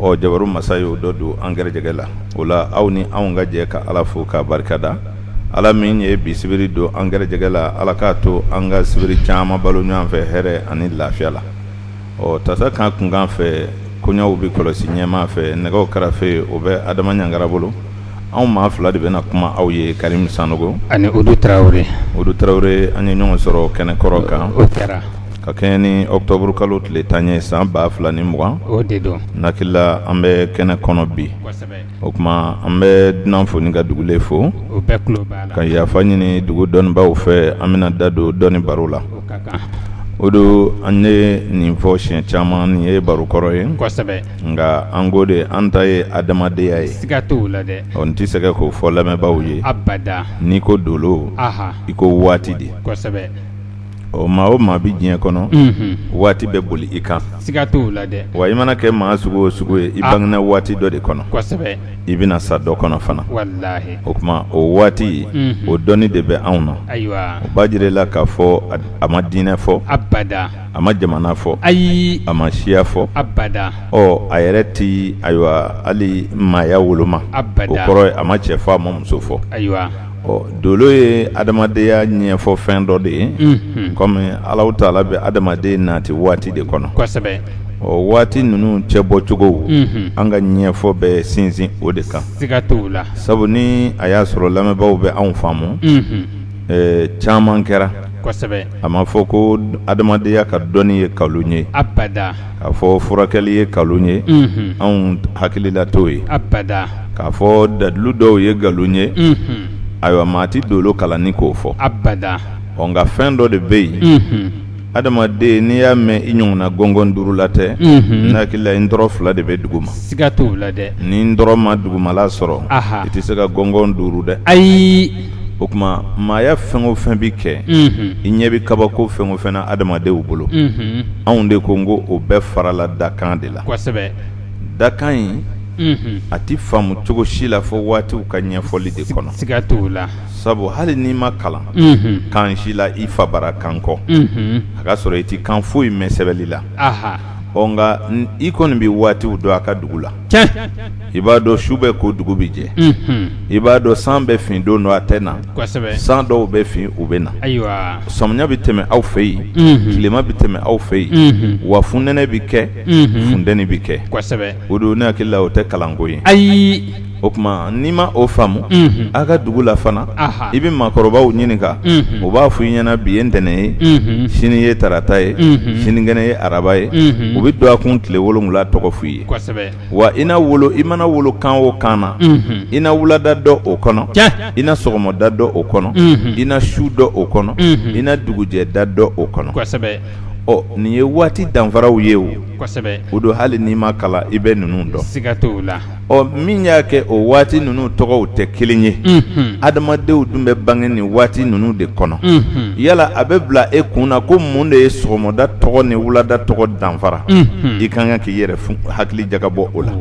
ɔ jabaru masa ye o dɔ don an garijɛgɛ la o la aw ni anw ka jɛ ka ala fo k'a barikada ala min ye bi sibiri don an garijɛgɛ la ala k'a to an ka sibiri caman balo ɲɔgɔn fɛ hɛrɛ ani lafiya la ɔ tasa kan kunkan fɛ koɲaw bɛ kɔlɔsi ɲɛma fɛ nɛgɛw karafe o bɛ adama ɲangara bolo anw maa fila de bɛna kuma aw ye Karimu Sanɔgɔ ani Udu Tarawele, Udu Tarawele an ye ɲɔgɔn sɔrɔ kɛnɛ kɔrɔ kan, o kɛra, ka kɛɲɛ ni octobre kalo tile tan ye san ba fila ni mugan, o de don, n hakili la an bɛ kɛnɛ kɔnɔ bi, kosɛbɛ, o tuma an bɛ dunan fo ni ka dugulen fo, u bɛɛ tulo b'a la, ka yafa ɲini dugu dɔnnibaaw fɛ an bɛna da don dɔnni baro la, o ka kan, Udu an ye nin fɔ siɲɛ caman nin ye baro kɔrɔ ye, kosɛbɛ Nka an ko de an ta ye adamadenya ye siga t'o la dɛ n tɛ sɛgɛn k'o fɔ lamɛnbaaw ye abada n'i ko dolo i ko waati de kosɛbɛ ɔ maa o maa bɛ diɲɛ kɔnɔ waati bɛ boli i kan siga t'o la dɛ wa i mana kɛ maa sugu o sugu ye i bangena waati dɔ de kɔnɔ kosɛbɛ i bɛna sa dɔ kɔnɔ fana o tuma o waati o dɔnni de bɛ anw na ayiwa o b'a jira la k'a fɔ a ma diinɛ fɔ abada a ma jamana fɔ ayi a ma siya fɔ abada ɔ a yɛrɛ tɛ ayiwa hali maaya woloma o kɔrɔ a ma cɛ fɔ a ma muso fɔ ayiwa ɔ dolo ye adamadenya ɲɛfɔ fɛn dɔ de ye kɔmi alahu taala bɛ adamaden nati waati de kɔnɔ ɔ waati ninnu cɛ bɔcogo an ka ɲɛfɔ bɛ sinsin o de kan siga t'o la sabu ni a y'a sɔrɔ lamɛnbaaw bɛ anw faamu caman kɛra kosɛbɛ a ma fɔ ko adamadenya ka dɔnni ye nkalon ye abada k'a fɔ furakɛli ye nkalon ye anw hakilila t'o ye abada k'a fɔ dalilu dɔw ye nkalon ye ayiwa maa ti dolo kalan n'i k'o fɔ abada nka fɛn dɔ de bɛ yen adamaden n'i y'a mɛn i ɲɔgɔn na gɔngɔn duurula tɛ n hakili la i ntɔrɔn fila de bɛ dugu ma siga t'o la dɛ n'i ntɔrɔn ma dugumala sɔrɔ i tɛ se ka gɔngɔn duuru dɛ ayi o tuma maaya fɛn o fɛn bɛ kɛ i ɲɛ bɛ kabako fɛn o fɛn na adamadenw bolo anw de ko n ko o bɛɛ farala dakan de la dakan in a tɛ faamu cogo si la fo waatiw ka ɲɛfɔli de kɔnɔ siga t'o la sabu hali n'i ma kalan kan si la i fa bara kan kɔ a ka sɔrɔ i tɛ kan foyi mɛn sɛbɛnli la ɔ nka i kɔni bɛ waatiw dɔn a ka dugu la i b'a dɔn su bɛ ko dugu bɛ jɛ i b'a dɔn san bɛ fin don dɔ a tɛ na san dɔw bɛ fin u bɛ na samiya bɛ tɛmɛ aw fɛ yen tilema bɛ tɛmɛ aw fɛ yen wa funɛnɛ bɛ kɛ funteni bɛ kɛ Udu ne hakili la o tɛ kalanko ye ayi o tuma n'i ma o faamu a ka dugu la fana i bɛ maakɔrɔbaw ɲininka u b'a fɔ i ɲɛna bi ye ntɛnɛn ye sini ye tarata ye sinikɛnɛ ye araba ye u bɛ dɔgɔkun tile wolonwula tɔgɔ f'i ye wa i wolo i mana wolo kan o kan na i na wulada dɔ o kɔnɔ i na sɔgɔmada dɔ o kɔnɔ i na su dɔ o kɔnɔ i na dugujɛda dɔ o kɔnɔ ɔ nin ye waati danfaraw ye o o don hali n'i ma kalan i bɛ ninnu dɔn ɔ min y'a kɛ o waati ninnu tɔgɔw tɛ kelen ye adamadenw dun bɛ bange nin waati ninnu de kɔnɔ yala a bɛ bila e kun na ko mun de ye sɔgɔmada tɔgɔ ni wulada tɔgɔ danfara i ka kan k'i yɛrɛ hakili jagabɔ o la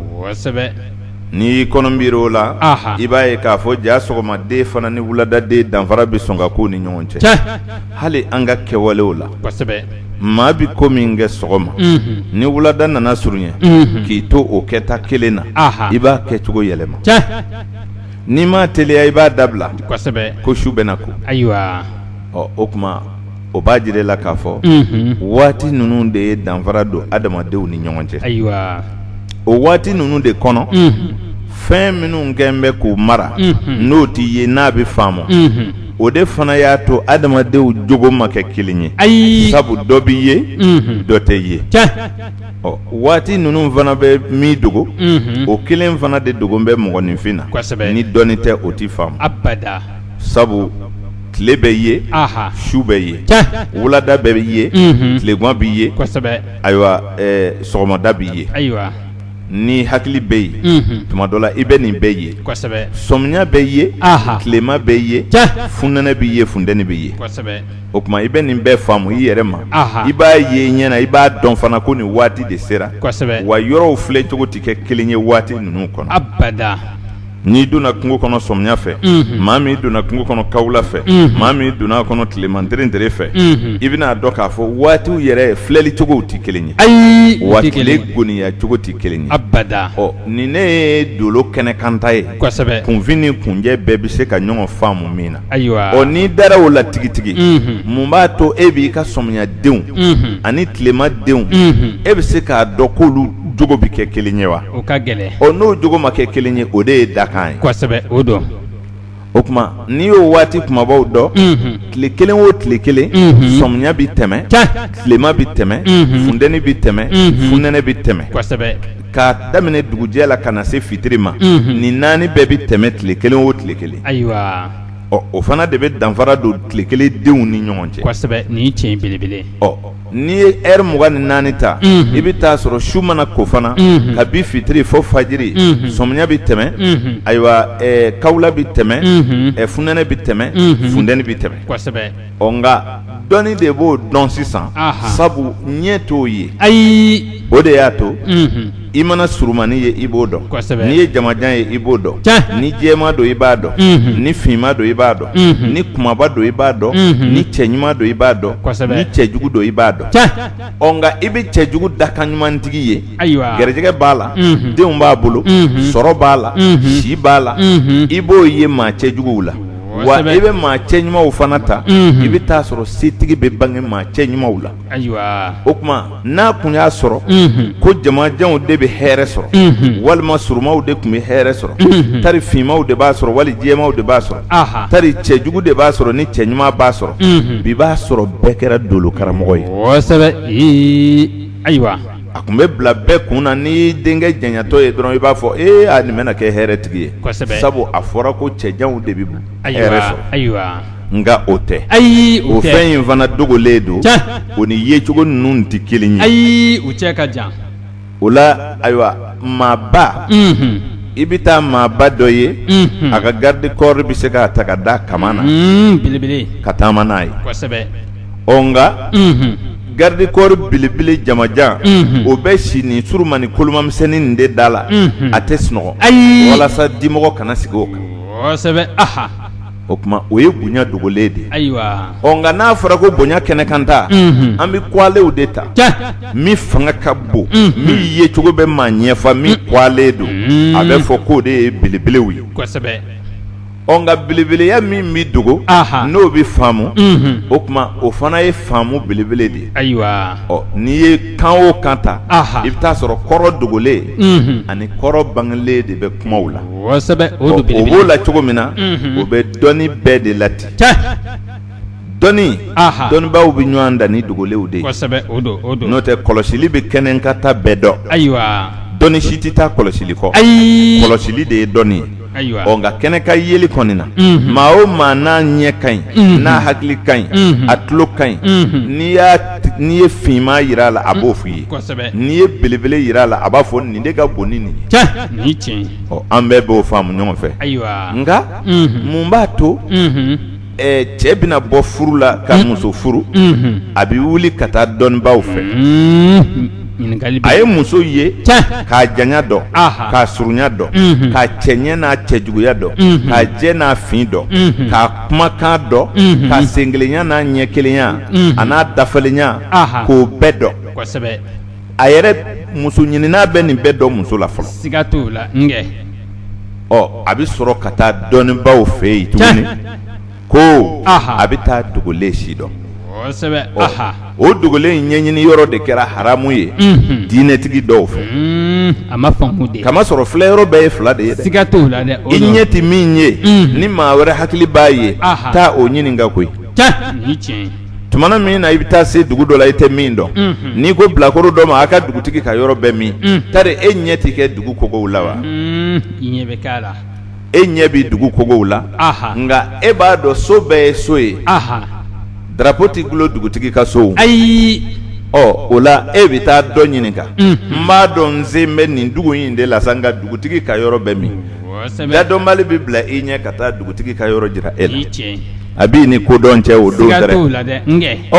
n'i y'i kɔnɔ biri o la i b'a ye k'a fɔ ja sɔgɔmaden fana ni wuladaden danfara bɛ sɔn ka k'u ni ɲɔgɔn cɛ hali an ka kɛwalew la maa bɛ ko min kɛ sɔgɔma ni wulada nana surunya k'i to o kɛta kelen na i b'a kɛ cogo yɛlɛma n'i ma teliya i b'a dabila ko su bɛna ko ayiwa ɔ o tuma o b'a jira la k'a fɔ waati ninnu de ye danfara don adamadenw ni ɲɔgɔn cɛ ayiwa o waati ninnu de kɔnɔ fɛn minnu kɛ bɛ k'u mara n'o tɛ ye n'a bɛ faamu ma o de fana y'a to adamadenw jogo ma kɛ kelen ye ayi sabu dɔ bɛ ye dɔ tɛ ye ɔ waati ninnu fana bɛ min dogo o kelen fana de dogo bɛ mɔgɔninfin na ni dɔnni tɛ o tɛ faamu sabu tile bɛ ye su bɛ yen wulada bɛ ye tilegan bɛ ye ayiwa sɔgɔmada bɛ yen ni hakili bɛ yen tuma dɔ la i bɛ nin bɛɛ ye sɔmiya bɛ ye tilema bɛ ye funɛnɛ bɛ ye funteni bɛ ye o tuma i bɛ nin bɛɛ faamu i yɛrɛ ma i b'a ye ɲɛna i b'a dɔn fana ko nin waati de sera wa yɔrɔw filɛ cogo tɛ kɛ kelen ye waati ninnu kɔnɔ n'i donna kungo kɔnɔ sɔmiya fɛ maa min donna kungo kɔnɔ kawula fɛ maa min donna kɔnɔ tilema terentere fɛ i bɛn'a dɔn k'a fɔ waatiw yɛrɛ filɛli cogow tɛ kelen ye ayi wa tile goniya cogo tɛ kelen ye abada ɔ nin ne ye dolo kɛnɛkanta ye kunfin ni kunjɛ bɛɛ bɛ se ka ɲɔgɔn faamu min na Ayiwa o n'i dara o la tigitigi mun b'a to e b'i ka sɔmiyadenw ani tilemadenw e bɛ se k'a dɔn k'olu jogo bɛ kɛ kelen ye wa o ka gɛlɛn ɔ n'o jogo ma kɛ kelen ye o de ye dakan ye kosɛbɛ o don o tuma n'i y'o waati kunbabaw dɔn tile kelen o tile kelen sɔmiya bɛ tɛmɛ tilema bɛ tɛmɛ funteni bɛ tɛmɛ funɛnɛ bɛ tɛmɛ kosɛbɛ k'a daminɛ dugujɛ la ka na se fitiri ma nin naani bɛɛ bɛ tɛmɛ tile kelen o tile kelen ayiwa o fana de bɛ danfara don tile kelen denw ni ɲɔgɔn cɛ kosɛbɛ ni tiɲɛ belebele ɔ n'i ye heure mugan ni naani ta i bɛ taa sɔrɔ su mana ko fana kabi fitiri fo fajiri sɔmiya bɛ tɛmɛ ayiwa kawula bɛ tɛmɛ funɛnɛ bɛ tɛmɛ funteni bɛ tɛmɛ ɔ nka dɔnni de b'o dɔn sisan sabu ɲɛ t'o ye ayi o de y'a to i mana surunmani ye i b'o dɔn n'i ye jamajan ye i b'o dɔn ni jɛma don i b'a dɔn ni finma don i b'a dɔn ni kumaba don i b'a dɔn ni cɛ ɲuman don i b'a dɔn ni cɛjugu don i b'a dɔn ɔ nka i bɛ cɛjugu dakan ɲumantigi ye ayiwa garijɛgɛ b'a la denw b'a bolo sɔrɔ b'a la si b'a la i b'o ye maa cɛjuguw la wa i bɛ maa cɛ ɲumanw fana ta i bɛ taa sɔrɔ setigi bɛ bange maa cɛ ɲumanw la ayiwa o tuma n'a tun y'a sɔrɔ ko jamajanw de bɛ hɛrɛ sɔrɔ walima surunmaw de tun bɛ hɛrɛ sɔrɔ tari finmaw de b'a sɔrɔ wali jɛmaw de b'a sɔrɔ tari cɛjugu de b'a sɔrɔ ni cɛ ɲuman b'a sɔrɔ bi b'a sɔrɔ bɛɛ kɛra dolokaramɔgɔ ye ayiwa a tun bɛ bila bɛɛ kun na n'i denkɛ janyatɔ ye dɔrɔn i b'a fɔ e a nin bɛna kɛ hɛrɛtigi ye sabu a fɔra ko cɛjanw de bɛ hɛrɛ sɔrɔ ayiwa nka o tɛ ayi o fɛn in fana dogolen don o ni yecogo ninnu tɛ kelen ye ayi u cɛ ka jan o la ayiwa maaba i bɛ taa maaba dɔ ye a ka garde corps bɛ se k'a ta ka da kama na belebele ka taama n'a ye ɔ nka garde corps belebele jamajan o bɛ si nin surunmani kolomamisɛnnin nin de da la a tɛ sunɔgɔ ayi walasa dimɔgɔ kana sigi o kan kosɛbɛ o tuma o ye bonya dogolen de ayiwa ɔ nka n'a fɔra ko bonya kɛnɛkanta an bɛ kɔlenw de ta min fanga ka bon min yecogo bɛ maa ɲɛfa min kɔlen don a bɛ fɔ k'o de ye belebelew ye ɔ nka belebeleya min bɛ dogo n'o bɛ faamu o tuma o fana ye faamu belebele de ye ayiwa ɔ n'i ye kan o kan ta i bɛ taa sɔrɔ kɔrɔ dogolen ani kɔrɔ bangelen de bɛ kumaw la o b'o la cogo min na o bɛ dɔnni bɛɛ de la ten dɔnni dɔnnibaw bɛ ɲɔgɔn dan ni dogolenw de ye n'o tɛ kɔlɔsili bɛ kɛnɛkanta bɛɛ dɔn ayiwa dɔnni si tɛ taa kɔlɔsili kɔ ayi kɔlɔsili de ye dɔnni ye nka kɛnɛkan yeli kɔni na maa o maa n'a ɲɛ ka ɲi n'a hakili ka ɲi a tulo ka ɲi n'i ye finma jira a la a b'o f'i ye n'i ye belebele jira a la a b'a fɔ nin de ka bon ni nin ye an bɛɛ b'o faamu ɲɔgɔn fɛ nka mun b'a to cɛ bɛna bɔ furu la ka muso furu a bɛ wuli ka taa dɔnnibaw fɛ a ye muso ye k'a janya dɔn k'a surunya dɔn k'a cɛɲɛ n'a cɛjuguya dɔn k'a jɛ n'a fin dɔn k'a kumakan dɔn k'a senkelenya n'a ɲɛkelenya a n'a dafalenya k'o bɛɛ dɔn a yɛrɛ muso ɲinina bɛ nin bɛɛ dɔn muso la fɔlɔ siga t'a la ɔ a bɛ sɔrɔ ka taa dɔnnibaw fɛ yen tuguni ko a bɛ taa dogolen si dɔn o dogolen in ɲɛɲini yɔrɔ de kɛra haramu ye diinɛtigi dɔw fɛ k'a masɔrɔ filɛ yɔrɔ bɛɛ ye fila de ye siga t'a la dɛ i ɲɛ tɛ min ye ni maa wɛrɛ hakili b'a ye taa o ɲininka koyi tumana min na i bɛ taa se dugu dɔ la i tɛ min dɔn n'i ko bilakoro dɔ ma a ka dugutigi ka yɔrɔ bɛ min tari e ɲɛ tɛ kɛ dugu kogow la wa e ɲɛ bɛ dugu kogow la nka e b'a dɔn so bɛɛ ye so ye darapo tɛ gulon dugutigi ka so ayi ɔ o la e bɛ taa dɔ ɲininka n b'a dɔn n sen bɛ nin dugu in de la sa nka dugutigi ka yɔrɔ bɛ min dadɔnbali bɛ bila i ɲɛ ka taa dugutigi ka yɔrɔ jira e la a b'i ni kodɔn cɛ o don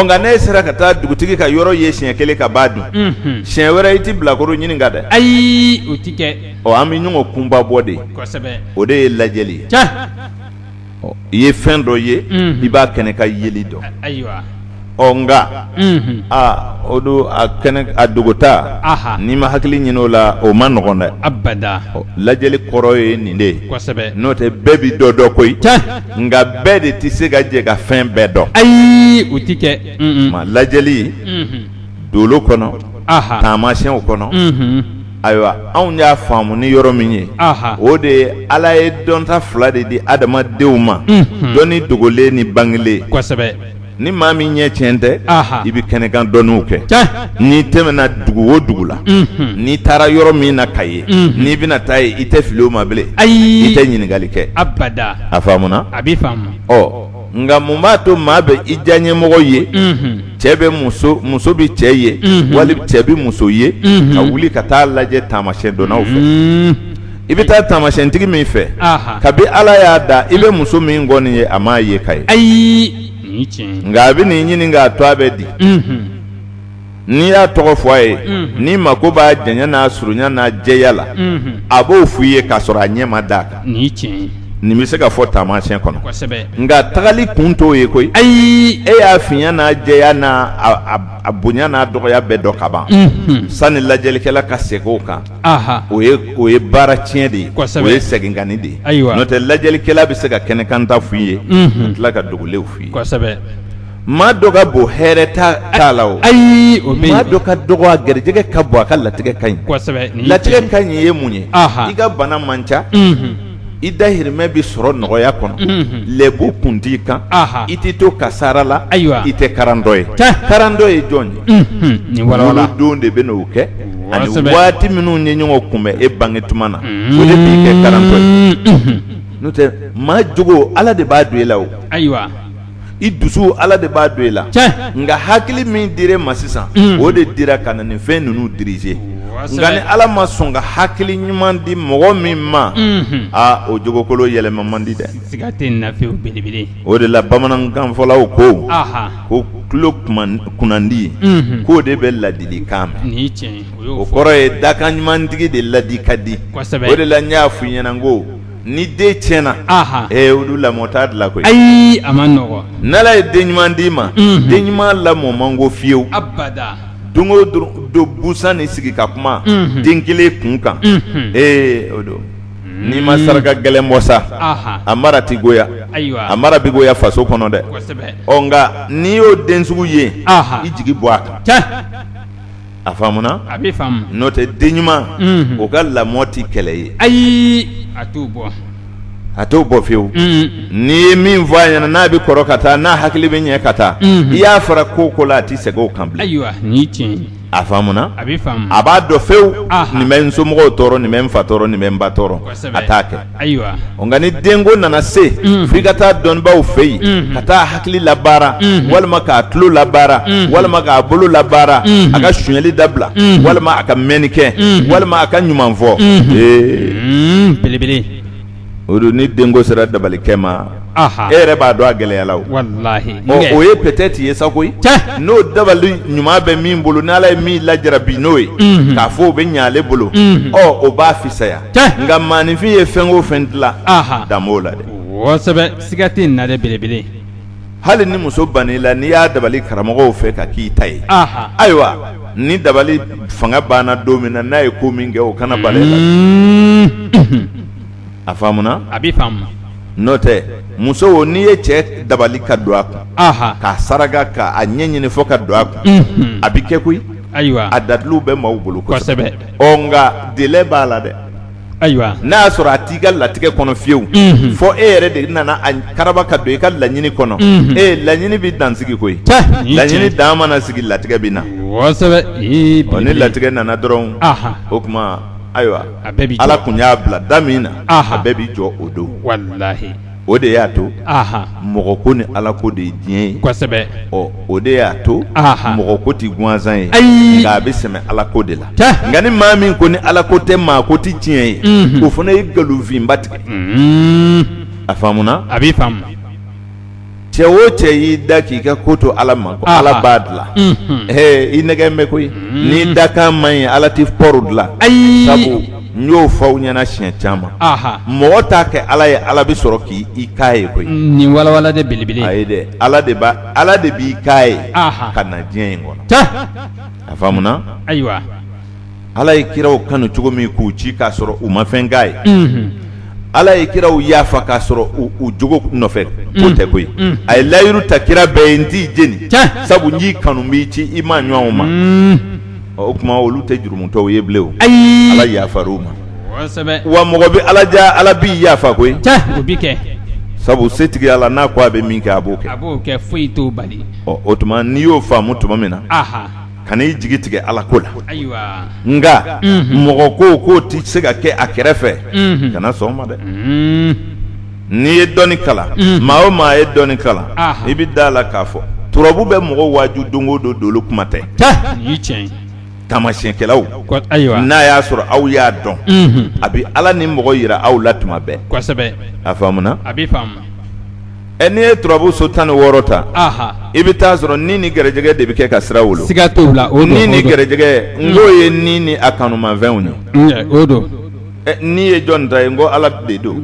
nka n'e sera ka taa dugutigi ka yɔrɔ ye siɲɛ kelen ka ban dun siɲɛ wɛrɛ i tɛ bilakoro ɲininka dɛ ayi an bɛ ɲɔgɔn kunba bɔ de o de ye lajɛli ye i ye fɛn dɔ ye i b'a kɛnɛkan yeli dɔn ɔ nka aa o don a dogota n'i ma hakili ɲini o la o man nɔgɔn dɛ abada lajɛli kɔrɔ ye nin de ye kosɛbɛ n'o tɛ bɛɛ bɛ dɔ dɔn koyi nka bɛɛ de tɛ se ka jɛ ka fɛn bɛɛ dɔn ayi o tɛ kɛ lajɛli dolo kɔnɔ taamasiyɛnw kɔnɔ ayiwa anw y'a faamu ni yɔrɔ min ye o de ye ala ye dɔnta fila de di adamadenw ma dɔnni dogolen ni bangelen kosɛbɛ ni maa min ɲɛ tiɲɛ tɛ i bɛ kɛnɛkan dɔnniw kɛ n'i tɛmɛna dugu o dugu la n'i taara yɔrɔ min na k'a ye n'i bɛna taa yen i tɛ fili o ma bilen ayi i tɛ ɲininkali kɛ abada a faamuna a bɛ ɔ nka mun b'a to maa bɛ i diyaɲɛmɔgɔ ye cɛ bɛ muso muso bɛ cɛ ye wali cɛ bɛ muso ye ka wuli ka taa lajɛ taamasiyɛndɔnnaw fɛ i bɛ taa taamasiyɛntigi min fɛ kabi ala y'a da i bɛ muso min kɔ nin ye a m'a ye ka ye ayi nka a bɛn'i ɲininka a tɔgɔ bɛ di n'i y'a tɔgɔ fɔ a ye n'i mako b'a janya n'a surunya n'a jɛya la a b'o f' i ye k'a sɔrɔ a ɲɛ ma d'a kan nin bɛ se ka fɔ taamasiyɛn kɔnɔ nka tagali kun t'o ye koyi ayi e y'a finya n'a jɛya n' a bonya n'a dɔgɔya bɛɛ dɔn ka ban sanni lajɛlikɛla ka segin o kan o o ye baara tiɲɛ de ye o ye seginkanni de ye n'o tɛ lajɛlikɛla bɛ se ka kɛnɛkanta f' i ye ka tila ka dogolenw f' i maa dɔ ka bon hɛrɛ t'a la o, ayi o bɛ yen, maa dɔ ka dɔgɔ a garijɛgɛ ka bon a ka latigɛ ka ɲi, kosɛbɛ, latigɛ ka ɲi ye mun ye, anhan, i ka bana man ca, unhun, i dahirimɛ bɛ sɔrɔ nɔgɔya kɔnɔ, unhun, lɛbu kun t'i kan, anhan, i tɛ to kasaara la, ayiwa, i tɛ karandɔ ye, tiɲɛ, karandɔ ye jɔn ye, unhun, nin walawala, wolodon de bɛ na o kɛ, kosɛbɛ, ani waati minnu ye ɲɔgɔn kunbɛn e bange tuma na, unhun, o de b'i kɛ karandɔ ye, unhun, n'o tɛ maa jogo Ala de b'a don e la o, ayiwa. i dusu ala de b'a don i la nka hakili min dir'i ma sisan o de dira ka na nin fɛn ninnu diriger nka ni ala ma sɔn ka hakili ɲuman di mɔgɔ min ma aa o jogokolo yɛlɛma man di dɛ o de la bamanankanfɔlaw ko ko tulo kunnandi k'o de bɛ ladilikan mɛn o kɔrɔ ye dakan ɲumantigi de ladi ka di o de la n y'a f'i ɲɛna ko Ni den tiɲɛna olu lamɔ t'a dilan koyi ayi a ma nɔgɔ n'Ala ye den ɲuman d'i ma den ɲuman lamɔ man go fiyewu don o don busan ni sigi ka kuma den kelen kun kan ee o don n'i ma saraka gɛlɛn bɔ sa a mara tɛ goya a mara bɛ goya faso kɔnɔ dɛ nka n'i y'o den sugu ye i jigi bɔ a kan a faamuna a bɛ n'o tɛ den ɲuman o ka lamɔ tɛ kɛlɛ ye ayi a t'o bɔ a t'o bɔ fiyewu n'i ye min fɔ a ɲɛna n'a bɛ kɔrɔ ka taa n'a hakili bɛ ɲɛ ka taa i y'a fara ko o ko la a tɛ segin o kan bilen ayiwa a faamuna a b'a dɔn fewu nin bɛ n somɔgɔw tɔɔrɔ nin bɛ n fa tɔɔrɔ nin bɛ n ba tɔɔrɔ a t'a kɛ Ayiwa nka ni denko nana se fo i ka taa dɔnnibaw fɛ yen ka taa hakili labaara walima k'a tulo labaara walima k'a bolo labaara a ka sonyali dabila walima a ka mɛnni kɛ walima a ka ɲuman fɔ ee belebele o don ni denko sera dabalikɛ ma e yɛrɛ b'a dɔn a gɛlɛyala o ye peut-être ye sa koyi n'o dabali ɲuman bɛ min bolo n' ala ye min lajarabi n'o ye k'a fɔ o bɛ ɲɛ ale bolo ɔ o b'a fisaya nka maaninfin ye fɛn o fɛn dilan dan b'o la dɛ siga tɛ nin na belebele hali ni muso bann'i la n'i y'a dabali karamɔgɔw fɛ ka k'i ta ye ayiwa ni dabali fanga banna don min na n'a ye ko min kɛ o kana bal'i la a faamuna a bɛ faamu n'o tɛ muso n'i ye cɛ dabali ka don a kun k'a saraka ka a ɲɛ ɲini fɔ ka don a kun a bɛ kɛ koyi ayiwa a dalilu bɛ maaw bolo kosɛbɛ nka délai b'a la dɛ ayiwa n'a y'a sɔrɔ a t'i ka latigɛ kɔnɔ fiyewu fɔ e yɛrɛ de nana a karaba ka don i ka laɲini kɔnɔ ee laɲini bɛ dan sigi koyi laɲini dan mana sigi latigɛ bɛ na kosɛbɛ ni latigɛ nana dɔrɔn o tuma ayiwa a bɛɛ b'i jɔ. ala kun y'a bila da min na Aha. a bɛɛ b'i jɔ o don walahi o de y'a to aha mɔgɔ ko ni ala ko de ye diɲɛ ye kosɛbɛ ɔ o de y'a to Aha. mɔgɔ ko tɛ gansan ye Ayi. nka a bɛ sɛmɛ ala ko de la Tɛ. nka ni maa min ko ni ala ko tɛ maa ko tɛ tiɲɛ ye Mhm. o fana ye nkalonfinba tigɛ Mhm. a faamuna a b'i faamu cɛ o cɛ y'i da k'i ka ko to ala ma ko ala b'a dila i nɛgɛn bɛ koyi n'i dakan man ɲi ala tɛ pɔru dilan ayi sabu n y'o fɔ aw ɲɛna siɲɛ caman mɔgɔ t'a kɛ ala ye ala bɛ sɔrɔ k'i k'a ye koyi nin walawala de belebele ye dɛ ala de ala de b'i k'a ye ka na diɲɛ in kɔnɔ a faamuna ayiwa ala ye kiraw kanu cogo min k'u ci k'a sɔrɔ u ma fɛn k'a ye ala ye kiraw yafa k'a sɔrɔ u jogo nɔfɛ ko tɛ koyi a ye layiru ta kira bɛɛ ye n t'i jeni sabu n y'i kanu n b'i ci i maaɲɔgɔnw ma o tuma olu tɛ jurumutɔw ye bilen ayi ala yafar'u ma wa mɔgɔ bɛ ala ja ala b'i yafa koyi o bɛ kɛ sabu setigi ala n'a ko a bɛ min kɛ a b'o kɛ foyi t'o bali o tuma n'i y'o faamu tuma min na kan'i jigi tigɛ ala ko la nka mɔgɔ ko ko tɛ se ka kɛ a kɛrɛfɛ kana sɔn ma dɛ n'i ye dɔnni kalan maa o maa ye dɔnni kalan i bɛ da la k'a fɔ turabu bɛ mɔgɔ waaju don o don tolon kuma tɛ taamasiyɛnkɛlaw ayiwa n'a y'a sɔrɔ aw y'a dɔn a bɛ ala ni mɔgɔ yira aw la tuma bɛɛ a Ɛ n'i ye turabu so tan ni wɔɔrɔ ta i bɛ taa a sɔrɔ ni ni garijɛgɛ de bɛ kɛ ka sira wolo siga t'o la ni ni garijɛgɛ n'o ye ni ni a kanumafɛnw ye o don n'i ye jɔn ta yen ko ala de don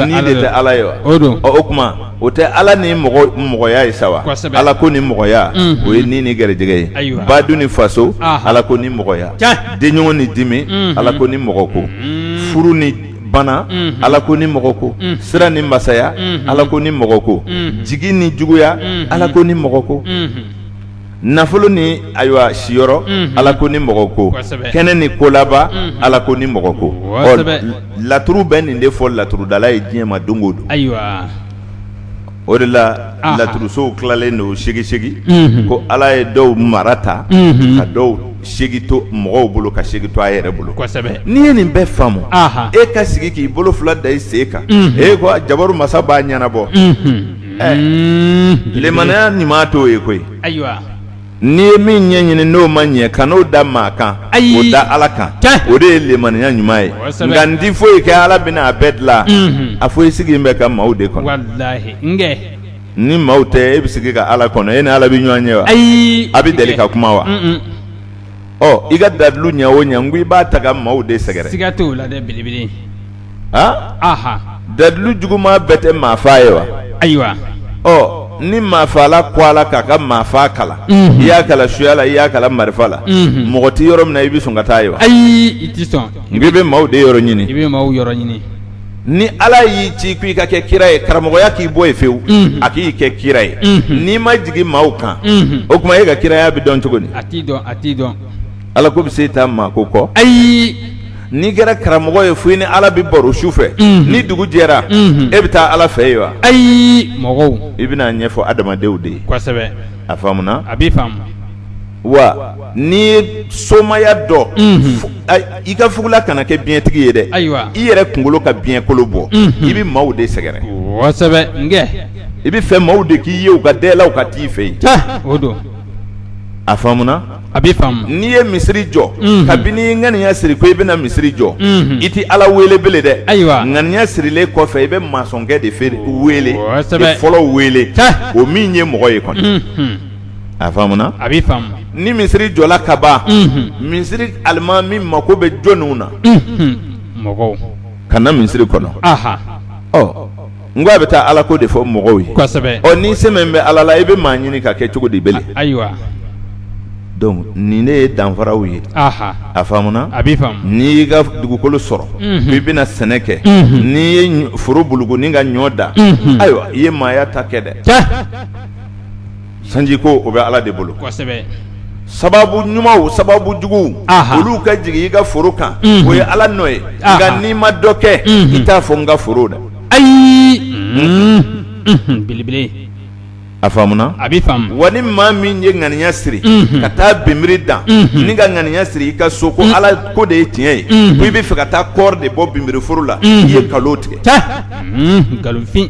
ni de tɛ ala ye wa o don o tuma o tɛ ala ni mɔgɔ mɔgɔya ye sa wa ala ko ni mɔgɔya o ye ni ni garijɛgɛ ye badu ni faso ala ko ni mɔgɔya denɲɔgɔn ni dimi ala ko ni mɔgɔ ko furu ni bana ala ko ni mɔgɔ ko sira ni masaya ala ko ni mɔgɔ ko jigi ni juguya ala ko ni mɔgɔ ko nafolo ni ayiwa siyɔrɔ ala ko ni mɔgɔ ko kɛnɛ ni kolaban ala ko ni mɔgɔ ko laturu bɛ nin de fɔ laturudala ye diɲɛ ma don o don o de la laturusow tilalen don segin ko ala ye dɔw mara ta ka dɔw segi to mɔgɔw bolo ka segi to a yɛrɛ bolo n'i ye nin bɛɛ faamu e ka sigi k'i bolo fila da i sen kan e ko jabaru masa b'a ɲɛnabɔ ɛɛ lemaniya ɲuman t'o ye koyi N'i ye min ɲɛ ɲini n'o ma ɲɛ kan'o da maa kan o da ala kan o de ye lemaniya ɲuman ye nka n tɛ foyi kɛ ala bɛna a bɛɛ dilan a fɔ i sigilen bɛ ka maaw de kɔnɔ ni maaw tɛ e bɛ sigi ka ala kɔnɔ e ni ala bɛ ɲɔgɔn ye wa ayi a bɛ deli ka kuma wa ɔ i ka dalilu ɲɛ o ɲɛ n ko i b'a ta ka maaw de sɛgɛrɛ a dalilu juguman bɛɛ tɛ maa faa ye wa ayiwa ɔ ni maafaala ko a la k'a ka maa faa kalan i y'a kala suya la i y'a kala marifa la mɔgɔ tɛ yɔrɔ min na i bɛ sɔn ka taa ye wa ayi i tɛ sɔn i bɛ maaw de yɔrɔ ɲini i bɛ maaw yɔrɔ ɲini ni ala y'i ci ko i ka kɛ kira ye karamɔgɔya k'i bɔ ye fewu a k'i kɛ kira ye n'i ma jigin maaw kan o tuma e ka kiraya bɛ dɔn cogo di a t'i dɔn a t'i dɔn Ala ko bɛ se taa maa ko kɔ ayi n'i kɛra karamɔgɔ ye fo i ni ala bɛ baro su fɛ ni dugu jɛra e bɛ taa ala fɛ ye wa ayi mɔgɔw i bɛna ɲɛfɔ adamadenw de ye kosɛbɛ a faamuna a bɛ faamu wa n'i ye somaya dɔn i ka fugula kana kɛ biɲɛtigi ye dɛ ayiwa i yɛrɛ kunkolo ka biɲɛkolo bɔ i bɛ maaw de sɛgɛrɛ kosɛbɛ nkɛ i bɛ fɛ maaw de k'i ye u ka dalaw ka t'i fɛ yen o don a faamuna A bɛ n'i ye misiri jɔ kabini i ŋaniya siri ko i bɛna misiri jɔ i tɛ ala wele bele dɛ ayiwa ŋaniya sirilen kɔfɛ i bɛ masɔnkɛ de feere wele fɔlɔ wele o min ye mɔgɔ ye kɔni a faamuna a bɛ ni misiri jɔla ka ban misiri alimami mako bɛ jɔnniw na mɔgɔw ka na misiri kɔnɔ n ko a bɛ taa ala ko de fɔ mɔgɔw ye kosɛbɛ ɔ n'i sɛmɛnen bɛ ala la i bɛ maa ɲini ka kɛ cogo di bele ayiwa donc nin ne ye danfaraw ye a faamuna a bɛ faamu n'i y'i ka dugukolo sɔrɔ i bɛna sɛnɛ kɛ n'i ye foro buluku ni ka ɲɔ dan ayiwa i ye maaya ta kɛ dɛ sanji ko o bɛ ala de bolo kosɛbɛ sababu ɲumanw sababu juguw olu ka jigin i ka foro kan o ye ala nɔ ye nka n'i ma dɔ kɛ i t'a fɔ n ka foro da ayi belebele a faamuna a bɛ faamu wa ni maa min ye ŋaniya siri ka taa binbiri dan ni ka ŋaniya siri i ka so ko ala ko de ye tiɲɛ ye ko i bɛ fɛ ka taa kɔɔri de bɔ binbiri foro la i ye nkalon tigɛ nkalonfin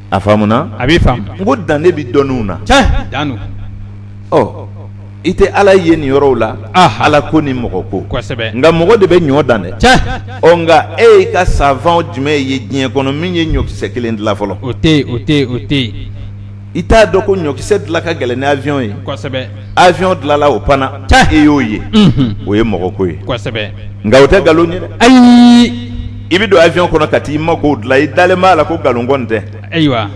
a faamuna a bɛ n ko dan de bɛ dɔnniw na dan ɔ i tɛ ala ye nin yɔrɔw la ala ko ni mɔgɔ ko kosɛbɛ nka mɔgɔ de bɛ ɲɔ dan dɛ ɔ nka e y'i ka savant jumɛn ye diɲɛ kɔnɔ min ye ɲɔkisɛ kelen dilan fɔlɔ o o o tɛ yen i t'a dɔn ko ɲɔkisɛ dilan ka gɛlɛn ni avion ye avion dilala o panna i e y'o ye o ye mɔgɔ ko ye nka o tɛ nkalon ye dɛ ayi i bɛ don avion kɔnɔ ka t'i makow dilan i dalen b'a la ko nkalon kɔni tɛ ayiwa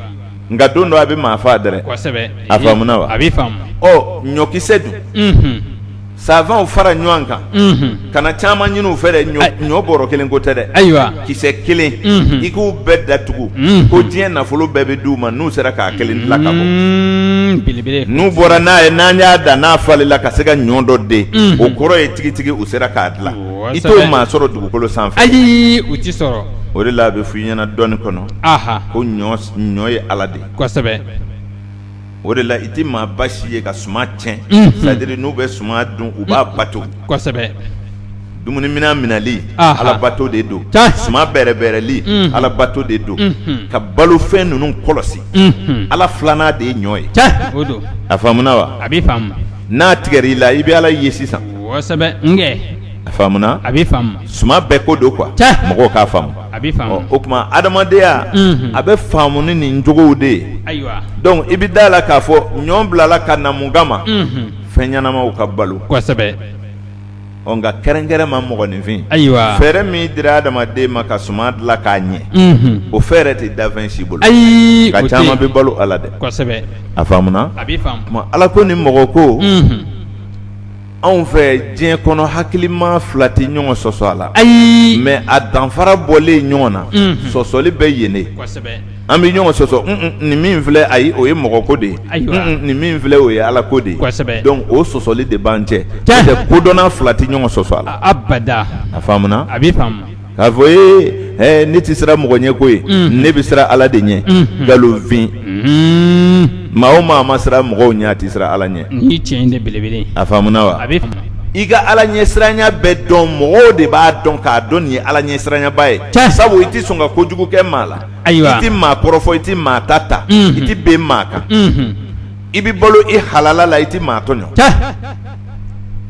nka don dɔ a bɛ maa faa dɛrɛ a faamuna wa a bɛ faamu ɔ ɲɔkisɛ dun savantw fara ɲɔgɔn kan kana caman ɲini u fɛ dɛ ɲɔ bɔrɔ kelen ko tɛ dɛ ayiwa kisɛ kelen i k'u bɛɛ datugu ko diɲɛ nafolo bɛɛ bɛ d'u ma n'u sera k'a kelen dilan ka bɔ belebele n'u bɔra n'a ye n'an y'a dan n'a falenna ka se ka ɲɔ dɔ den o kɔrɔ ye tigitigi u sera k'a dila i t'o maa sɔrɔ dugukolo sanfɛ ayi u tɛ sɔrɔ o de la a bɛ f'i ɲɛna dɔnni kɔnɔ ko ɲɔ ye ala de o de la i tɛ maa basi ye ka suman tiɲɛ c'est-à-dire n'u bɛ suman dun u b'a bato kosɛbɛ dumunimina minali alabato de don suman bɛrɛbɛrɛli alabato de don ka balofɛn ninnu kɔlɔsi ala filanan de ye ɲɔ ye a faamuna wa a bɛ faamu n'a tigɛr'i la i bɛ ala ye sisan kosɛbɛ nkɛ a faamuna a bɛ faamu suman bɛɛ ko don quoi mɔgɔw k'a faamu a bɛ faamu, ɔ o tuma adamadenya, unhun, a bɛ faamu ni nin jogow de ye, ayiwa, donc i bɛ d'a la k'a fɔ ɲɔ bilala ka na mun kama, unhun, fɛn ɲɛnamaw ka balo, kosɛbɛ, ɔ nka kɛrɛnkɛrɛnma mɔgɔninfin, ayiwa, fɛɛrɛ min dira adamaden ma ka suman dilan k'a ɲɛ, unhun, o fɛɛrɛ tɛ danfɛn si bolo, ayi, nka caman bɛ balo a la dɛ, kosɛbɛ, a faamuna, a bɛ faamu, o tuma Ala ko ni mɔgɔ ko, unhun anw fɛ diɲɛ kɔnɔ hakilima fila tɛ ɲɔgɔn sɔsɔ a la ayi mais a danfara bɔlen ɲɔgɔn na sɔsɔli bɛ yen de an bɛ ɲɔgɔn sɔsɔ nin min filɛ ayi o ye mɔgɔ ko de ye nin min filɛ o ye ala ko de ye donc o sɔsɔli de b'an cɛ n'o tɛ kodɔnna fila tɛ ɲɔgɔn sɔsɔ a la a a a bɛ k'a fɔ ee ne tɛ siran mɔgɔ ɲɛ koyi ne bɛ siran Ala de ɲɛ nkalonfin maa o maa ma siran mɔgɔw ɲɛ a tɛ siran Ala ɲɛ nin ye tiɲɛ de belebele ye a faamuna wa a bɛ faamu i ka Ala ɲɛsiranya bɛ dɔn mɔgɔw de b'a dɔn k'a dɔn nin ye Ala ɲɛsiranyaba ye tiɲɛ sabu i tɛ sɔn ka kojugu kɛ maa la ayiwa i tɛ maa kɔrɔfɔ i tɛ maa ta ta i tɛ ben maa kan i bɛ balo i halala la i tɛ maa tɔɲɔn tiɲɛ.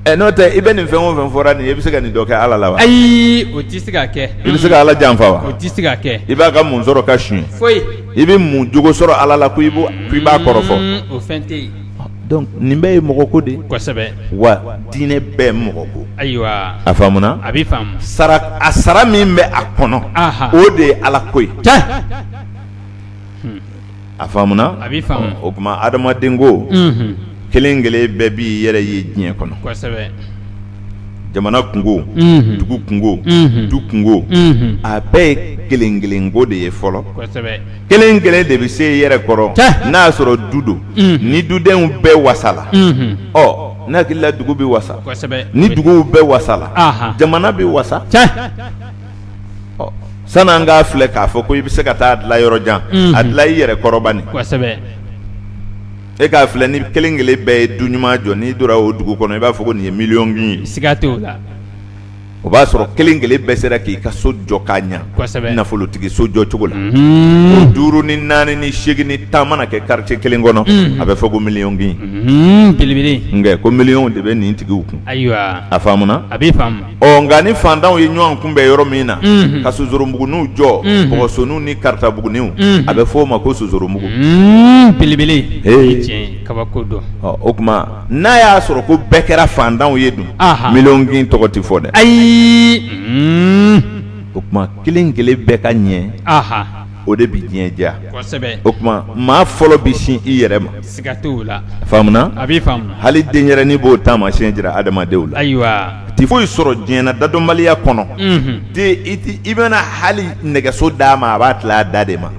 ɛ n'o tɛ i bɛ nin fɛn o fɛn fɔra nin ye i bɛ se ka nin dɔ kɛ Ala la wa? Ayi o tɛ se ka kɛ. I bɛ se ka Ala janfa wa? O tɛ se ka kɛ. I b'a ka mun sɔrɔ ka suɲɛ? Foyi. I bɛ mun jogo sɔrɔ Ala la ko i b'o k'i b'a kɔrɔfɔ? Un o fɛn tɛ yen. Donc nin bɛɛ ye mɔgɔ ko de ye. Kosɛbɛ. Wa diinɛ bɛɛ mɔgɔ ko. Ayiwa. A faamuna? A bɛ faamu. Sara a sara min bɛ a kɔnɔ. Anhan. O de ye Ala ko ye. Tiɲɛ. a faamuna a bɛ faamu o tuma adamaden ko kelen kelen bɛɛ b'i yɛrɛ ye diɲɛ kɔnɔ jamana kungo dugu kungo du kungo a bɛɛ ye kelen kelen ko de ye fɔlɔ kelen kelen de bɛ se yɛrɛ kɔrɔ n'a y'a sɔrɔ du don ni dudenw bɛɛ wasala ɔ n hakili la dugu bɛ wasa ni duguw bɛɛ wasala jamana bɛ wasa san'an k'a filɛ k'a fɔ ko i bɛ se ka taa dilan yɔrɔ jan a dilan i yɛrɛ kɔrɔ bani kosɛbɛ e k'a filɛ ni kelen kelen bɛɛ ye du ɲuman jɔ n'i donna o dugu kɔnɔ i b'a fɔ ko nin ye miliyɔnkin ye siga t'o la o b'a sɔrɔ kelen kelen bɛɛ sera k'i ka so jɔ k'a ɲɛ nafolotigi so jɔ cogo la duuru ni naani ni segin ni tan mana kɛ quartier kelen kɔnɔ a bɛ fɔ ko miliyɔnkin belebele nka ko miliyɔnw de bɛ nin tigiw kun ayiwa a ɔ nka ni fantanw ye ɲɔgɔn kunbɛn yɔrɔ min na ka sonsorobuguniw jɔ bɔgɔsoniw ni karatabuguniw a bɛ fɔ o ma ko sonsorobugu belebele kabako don o tuma n'a y'a sɔrɔ ko bɛɛ kɛra fantanw ye dun miliyɔnkin tɔgɔ tɛ fɔ dɛ ayi o tuma kelen kelen bɛɛ ka ɲɛ o de bɛ diɲɛ diya o tuma maa fɔlɔ bɛ sin i yɛrɛ ma hali denyɛrɛnin b'o taamasiyɛn jira adamadenw la ayiwa tɛ foyi sɔrɔ diɲɛ na dadɔnbaliya kɔnɔ i bɛna hali nɛgɛso d'a ma a b'a tila a da de ma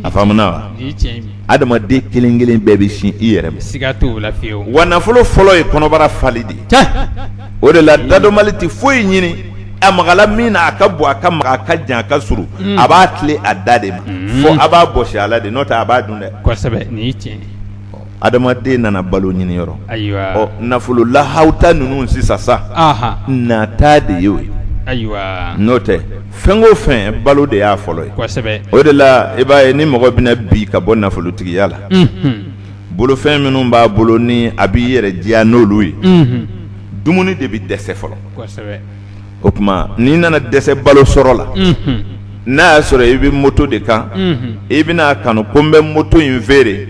a adamaden kelen kelen bɛɛ bɛ sin i yɛrɛ ma wa nafolo fɔlɔ ye kɔnɔbara fali de ye o de la dadɔnbali tɛ foyi ɲini a magala min na a ka bon a ka magan a ka jan a ka surun mm. a b'a tile a da de ma mm. fo a b'a bɔsi a la de n'o tɛ a b'a dun dɛ kosɛbɛ nin tiɲɛ adamaden nana balo ɲini yɔrɔ ayiwa ɔ nafolo lahawuta ninnu sisan sa nata de y'o ye ayiwa n'o tɛ fɛn o fɛn balo de y'a fɔlɔ ye kosɛbɛ o de la i b'a ye ni mɔgɔ bɛna bin ka bɔ nafolotigiya la bolofɛn minnu b'a bolo ni a b'i yɛrɛ diya n'olu ye dumuni de bɛ dɛsɛ fɔlɔ o tuma n'i nana dɛsɛ balo sɔrɔ la n'a y'a sɔrɔ i bɛ moto de kan i bɛna kanu ko n bɛ moto in feere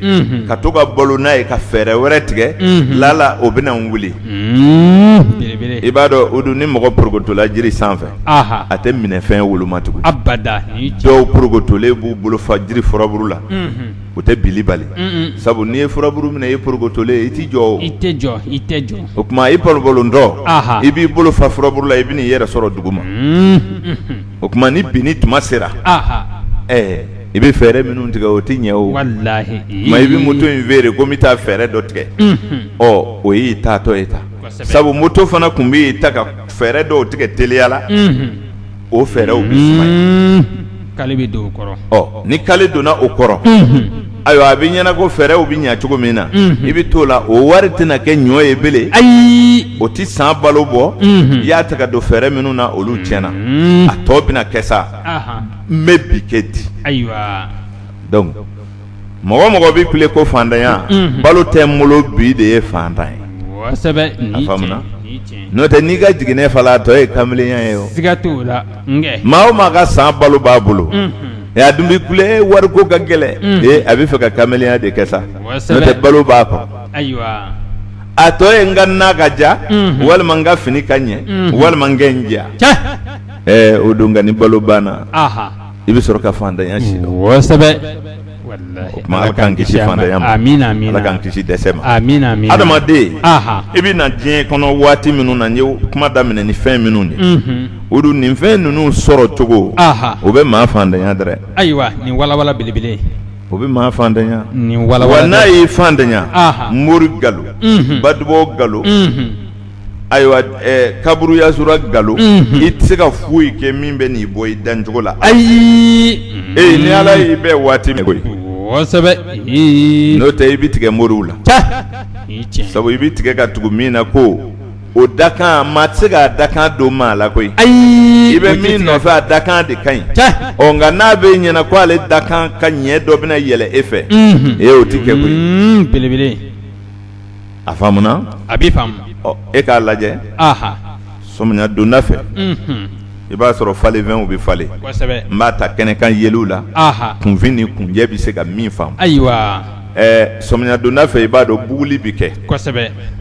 ka to ka balo n'a ye ka fɛɛrɛ wɛrɛ tigɛ lala o bɛna n wuli i b'a dɔn o dun ni mɔgɔ porokotola jiri sanfɛ a tɛ minɛfɛn woloma tugun dɔw porokotolen b'u bolo fa jiri furabulu la o tɛ binni bali sabu n'i ye furaburu minɛ i porokotolen i tɛ jɔ i tɛ jɔ i tɛ jɔ o tuma i porokotolen don i b'i bolo fa furaburu la i bɛ n'i yɛrɛ sɔrɔ duguma o tuma ni binni tuma sera ɛɛ i bɛ fɛɛrɛ minnu tigɛ o tɛ ɲɛ o ma i bɛ moto in feere ko n bɛ taa fɛɛrɛ dɔ tigɛ ɔ o y'i taatɔ ye ta sabu moto fana tun b'i ta ka fɛɛrɛ dɔw tigɛ teliya la o fɛɛrɛw bɛ sumaya, kale bɛ don o kɔrɔ, ɔ ni kale donna o kɔrɔ, unhun, ayiwa a bɛ ɲɛna ko fɛɛrɛw bɛ ɲɛ cogo min na, unhun, i bɛ t'o la o wari tɛna kɛ ɲɔ ye bilen, ayi, o tɛ san balo bɔ, unhun, i y'a ta ka don fɛɛrɛ minnu na olu tiɲɛna, unhun, a tɔ bɛna kɛ sa, anhan, n bɛ bi kɛ di, ayiwa, donc mɔgɔ mɔgɔ bɛ kule ko faantanya balo tɛ n bolo bi de ye faantan ye n'o tɛ n'i ka jiginɛ fala a tɔ ye kamelenya ye maa o maa ka san balo b'a bolo a dun bɛ kule wariko ka gɛlɛn ee a bɛ fɛ ka kamelenya de kɛ sa n'o tɛ balo b'a kɔ a tɔ ye n ka na ka ja walima n ka fini ka ɲɛ walima n kɛ n diya o don nka ni balo banna i bɛ sɔrɔ ka faantanya si dɔn, kosɛbɛ, walahi, o tuma Ala k'an kisi faantanya ma, amin amin, Ala k'an kisi dɛsɛ ma, amin amin, adamaden, anhan, i bɛ na diɲɛ kɔnɔ waati minnu na n ye kuma daminɛ ni fɛn minnu ye, unhun, o don nin fɛn ninnu sɔrɔ cogo, anhan, o bɛ maa faantanya dɛrɛ, ayiwa nin walawala belebele in o bɛ maa faantanya, nin walawala, wa n'a y'i faantanya, anhan, mori nkalon, unhun, Badibɔ nkalon, unhun Ayiwa kaburu yasura nkalon i tɛ se ka foyi kɛ min bɛ n'i bɔ i dancogo la ayi ee ni ala y'i bɛ waati min n'o tɛ i bɛ tigɛ moriw la sabu i bɛ tigɛ ka tugu min na ko o dakan maa tɛ se k'a dakan don maa la koyi ayi i bɛ min nɔfɛ a dakan de ka ɲi ɔ nka n'a bɛ ɲɛna ko ale dakan ka ɲɛ dɔ bɛna yɛlɛ e fɛ e y'o tɛ kɛ koyi belebele a faamuna a b'i faamu e k'a lajɛ sɔmiya donda fɛ i b'a sɔrɔ falenfɛnw bɛ falen n b'a ta kɛnɛkan yeliw la kunfin ni kunjɛ bɛ se ka min faamu ayiwa sɔmiya donda fɛ i b'a dɔn buguli bɛ kɛ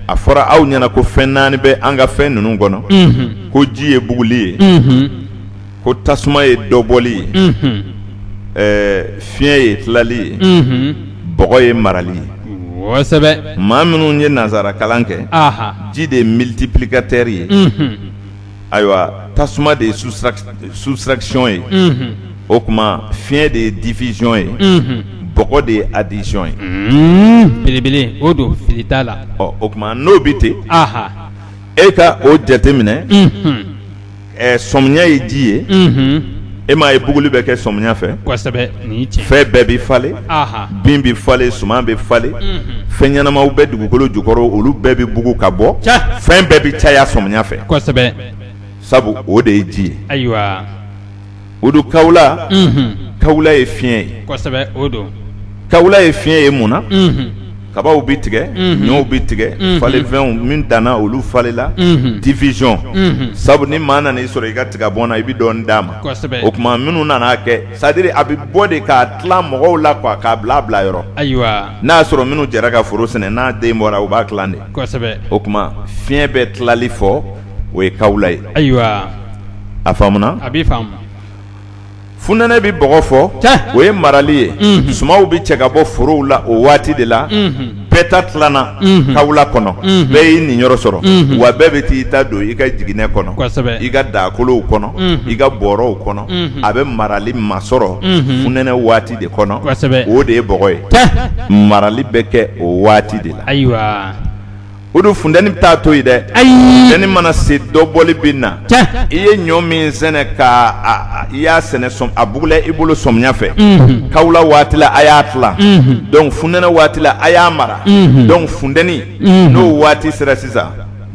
a fɔra aw ɲɛna ko fɛn naani bɛ an ka fɛn ninnu kɔnɔ ko ji ye buguli ye ko tasuma ye dɔbɔli ye fiɲɛ ye tilali ye bɔgɔ ye marali ye maa minnu ye nansara kalan kɛ ji de ye multiplicateur ye ayiwa tasuma de ye soustraction ye o tuma fiɲɛ de ye division ye bɔgɔ de ye addition ye belebele o don fili t'a la o tuma n'o bɛ ten e ka o jateminɛ ɛ sɔmiya ye ji ye e m'a ye buguli bɛ kɛ sɔmiya fɛ fɛn bɛɛ bɛ falen bin bɛ falen suman bɛ falen fɛn ɲɛnamaw bɛ dugukolo jukɔrɔ olu bɛɛ bɛ bugu ka bɔ fɛn bɛɛ bɛ caya sɔmiya fɛ sabu o de ye ji ye o don kawula kawula ye fiɲɛ ye o don kawula ye fiɲɛ ye mun na kabaw bɛ tigɛ ɲɔw bɛ tigɛ falenfɛnw min danna olu falenla division sabu ni maa nana i sɔrɔ i ka tiga bɔn na i bɛ dɔɔnin d'a ma o tuma minnu nana a kɛ c'est-à-dire a bɛ bɔ de k'a tila mɔgɔw la quoi k'a bila bila yɔrɔ ayiwa n'a y'a sɔrɔ minnu jɛra ka foro sɛnɛ n'a den bɔra u b'a tila de o tuma fiɲɛ bɛ tilali fɔ o ye kawula ye ayiwa a faamuna a b'a faamu funɛnɛ bɛ bɔgɔ fɔ o ye marali ye sumanw bɛ cɛ ka bɔ forow la o waati de la bɛɛ ta tilana kawula kɔnɔ bɛɛ y'i niyɔrɔ sɔrɔ wa bɛɛ bɛ taa i ta don i ka jiginɛ kɔnɔ i ka daakolow kɔnɔ i ka bɔrɔw kɔnɔ a bɛ marali masɔrɔ funɛnɛ waati de kɔnɔ o de ye bɔgɔ ye marali bɛ kɛ o waati de la ayiwa o don funteni bɛ taa to yen dɛ ayi funteni mana se dɔbɔli bɛ na i ye ɲɔ min sɛnɛ ka i y'a sɛnɛ a bugula i bolo sɔmiya fɛ kawula waati la a y'a tila donc funɛnɛ waati la a y'a mara donc funteni n'o waati sera sisan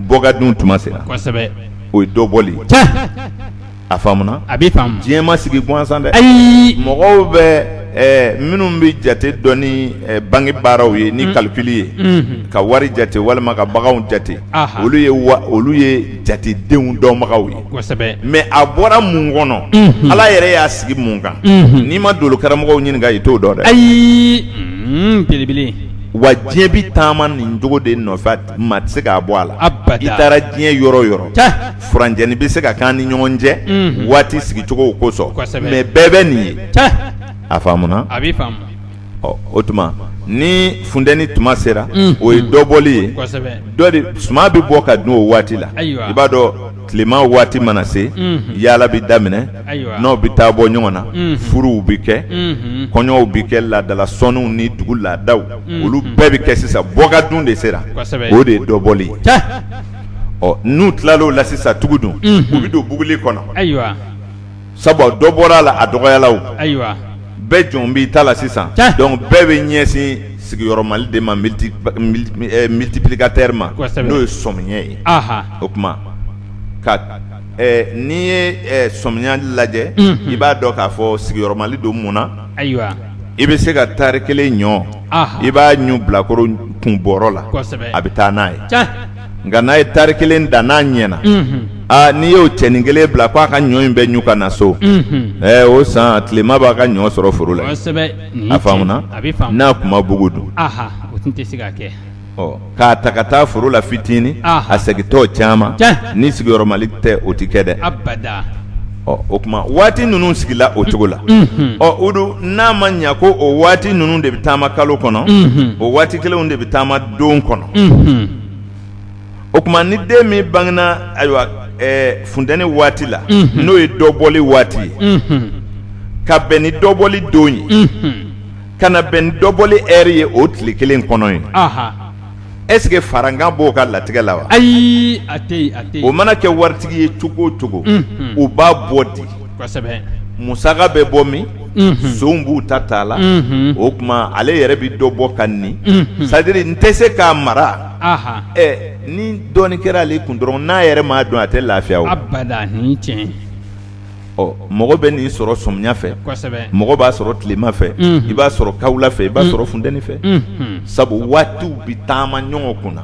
bɔ ka dun tuma sera o ye dɔbɔ a faamuna a bɛ diɲɛ ma sigi gansan dɛ ayi mɔgɔw bɛ minnu bɛ jate dɔn ni banki baaraw ye ni calcul ye ka wari jate walima ka baganw jate olu ye olu ye jatedenw dɔnbagaw ye mais a bɔra mun kɔnɔ ala yɛrɛ y'a sigi mun kan n'i ma dolo karamɔgɔw ɲininka i t'o dɔn dɛ ayi belebele wa diɲɛ bɛ taama nin cogo de nɔfɛ maa tɛ se k'a bɔ a la i taara diɲɛ yɔrɔ o yɔrɔ furancɛnin bɛ se ka k'an ni ɲɔgɔn cɛ waati sigicogow kosɔn mais bɛɛ bɛ nin ye a faamuna o tuma ni funteni tuma sera o ye dɔbɔli ye dɔ de suman bɛ bɔ ka dun o waati la i b'a dɔn tilema waati mana se yaala bɛ daminɛ n'aw bɛ taa bɔ ɲɔgɔn na furuw bɛ kɛ kɔɲɔw bɛ kɛ laadala sɔnniw ni dugu laadaw olu bɛɛ bɛ kɛ sisan bɔ ka dun de sera o de ye dɔbɔli ye n'u tilala o la sisan tugu dun u bɛ don buguli kɔnɔ sabu dɔ bɔra a la a dɔgɔyala ayiwa bɛɛ jɔn b'i ta la sisan donc bɛɛ bɛ ɲɛsin sigiyɔrɔmali de ma multiplicateur ma n'o ye sɔmiya ye o tuma ka n'i ye sɔmiya lajɛ i b'a dɔn k'a fɔ sigiyɔrɔmali don mun na ayiwa i bɛ se ka tari kelen ɲɔ i b'a ɲun bilakoro kun bɔrɔ la a bɛ taa n'a ye nka n'a ye tari kelen dan n'a ɲɛna aa n'i y'o cɛnin kelen bila k'a ka ɲɔ in bɛɛ ɲu ka na so ɛɛ o san tilema b'a ka ɲɔ sɔrɔ foro la a faamuna n'a tun ma bugu dun k'a ta ka taa foro la fitinin a segintɔ caman ni sigiyɔrɔmali tɛ o tɛ kɛ dɛ ɔ o tuma waati ninnu sigila o cogo la ɔ o don n'a ma ɲɛ ko o waati ninnu de bɛ taama kalo kɔnɔ o waati kelenw de bɛ taama don kɔnɔ o tuma ni den min bangena ayiwa funteni waati la n'o ye dɔbɔli waati ye ka bɛn ni dɔbɔli don ye ka na bɛn ni dɔbɔli heure ye o tile kelen kɔnɔ ye est-ce que farankan b'o ka latigɛ la wa ayi o mana kɛ waritigi ye cogo o cogo u b'a bɔ di musaka bɛ bɔ min sonw b'u ta t'a la o tuma ale yɛrɛ bɛ dɔ bɔ ka nin c'est-à-dire n tɛ se k'a mara ni dɔɔnin kɛra ale kun dɔrɔn n'a yɛrɛ m'a dun a tɛ lafiya ɔ mɔgɔ bɛ nin sɔrɔ sɔmiya fɛ mɔgɔ b'a sɔrɔ tilema fɛ i b'a sɔrɔ kawula fɛ i b'a sɔrɔ funteni fɛ sabu waatiw bɛ taama ɲɔgɔn kun na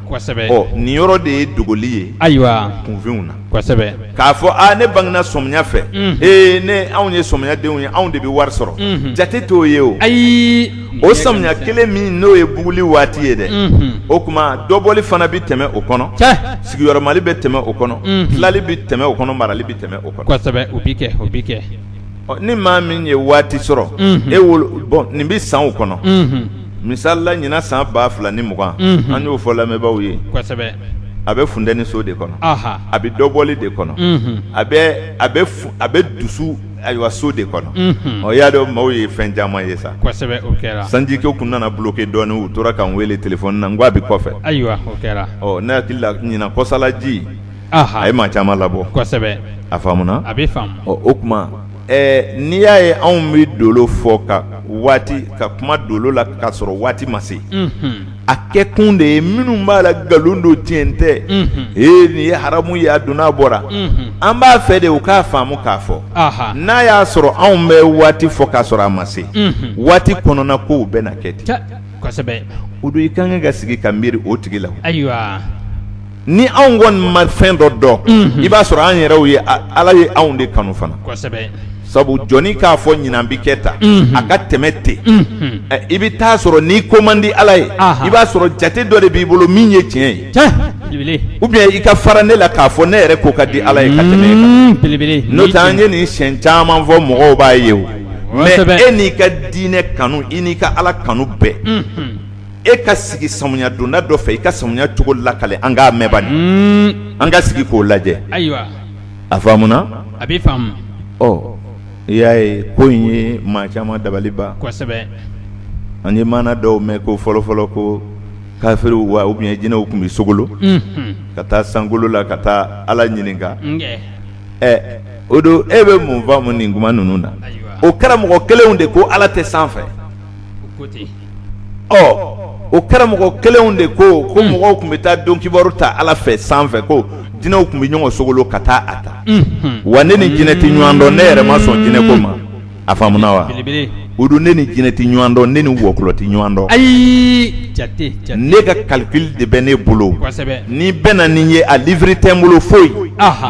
nin yɔrɔ de ye dogoli ye ayiwa kunfinw na k'a fɔ aa ne bangena sɔmiya fɛ ee ne anw ye sɔmiyadenw ye anw de bɛ wari sɔrɔ jate t'o ye o ayi o samiya kelen min n'o ye buguli waati ye dɛ o tuma dɔbɔli fana bɛ tɛmɛ o kɔnɔ sigiyɔrɔmali bɛ tɛmɛ o kɔnɔ tilali bɛ tɛmɛ o kɔnɔ marali bɛ tɛmɛ o kosɛbɛ o bɛ kɛ o bɛ kɛ ni maa min ye waati sɔrɔ e bon nin bɛ sanw kɔnɔ misalila ɲinan san ba fila ni mugan an y'o fɔ lamɛnbaaw ye a bɛ funteni so de kɔnɔ a bɛ dɔbɔli de kɔnɔ a bɛ dusu ayiwa so de kɔnɔ i y'a dɔn maaw ye fɛn caman ye sa sanji kɛ tun nana bloqué dɔɔnin u tora k'an weele telefɔni na n ko a bɛ kɔfɛ ayiwa ne hakili la ɲinan kɔsalaji a ye maa caman labɔ a faamuna a bɛ o tuma n'i y'a ye anw bɛ dolo fɔ ka waati ka kuma dolo la k'a sɔrɔ waati ma se a kɛ kun de ye minnu b'a la nkalon don tiɲɛ tɛ ee nin ye haramu ye a donna a bɔra an b'a fɛ de u k'a faamu k'a fɔ n'a y'a sɔrɔ anw bɛ waati fɔ k'a sɔrɔ a ma se waati kɔnɔna kow bɛ na kɛ ten o don i ka kan ka sigi ka miiri o tigi la ni anw kɔni ma fɛn dɔ dɔn i b'a sɔrɔ an yɛrɛw ye ala ye anw de kanu fana sabu jɔnni k'a fɔ ɲinan bɛ kɛ tan a ka tɛmɛ ten i bɛ t'a sɔrɔ n'i ko man di ala ye i b'a sɔrɔ jate dɔ de b'i bolo min ye tiɲɛ ye ou bien i ka fara ne la k'a fɔ ne yɛrɛ ko ka di ala ye ka tɛmɛ e kan n'o tɛ an ye nin siɲɛ caman fɔ mɔgɔw b'a ye o mais e n'i ka diinɛ kanu i n'i ka ala kanu bɛɛ e ka sigi samiya donda dɔ fɛ i ka samiya cogo lakale an k'a mɛn bani, hunn, an ka sigi k'o lajɛ, ayiwa, a faamuna, a bɛ faamu, ɔ i y'a ye ko in ye maa caman dabali ban, kosɛbɛ, an ye maana dɔw mɛn ko fɔlɔ-fɔlɔ ko kafiriw wa ou bien jinɛw tun bɛ sogolo, unhun, ka taa sankolo la ka taa Ala ɲininka, unkɛ, ɛ o don e bɛ mun faamu nin kuma ninnu na, ayiwa, o karamɔgɔ kelenw de ko Ala tɛ sanfɛ, u ko ten ɔ o karamɔgɔ kelenw de ko ko hmm. mɔgɔw tun bɛ taa don kibaru ta ala fɛ sanfɛ ko jinɛw tun bɛ ɲɔgɔn sogolo ka taa a ta hmm. wa ne ni jinɛ tɛ ɲɔgɔn dɔn ne yɛrɛ ma sɔn jinɛ ko ma a faamuna wa o don ne ni jinɛ tɛ ɲɔgɔn dɔn ne ni wɔkulɔ tɛ ɲɔgɔn dɔn ayi jate jate ne ka calcul de bɛ ne bolo kosɛbɛ ni n bɛnna n'i ye a livre tɛ n bolo foyi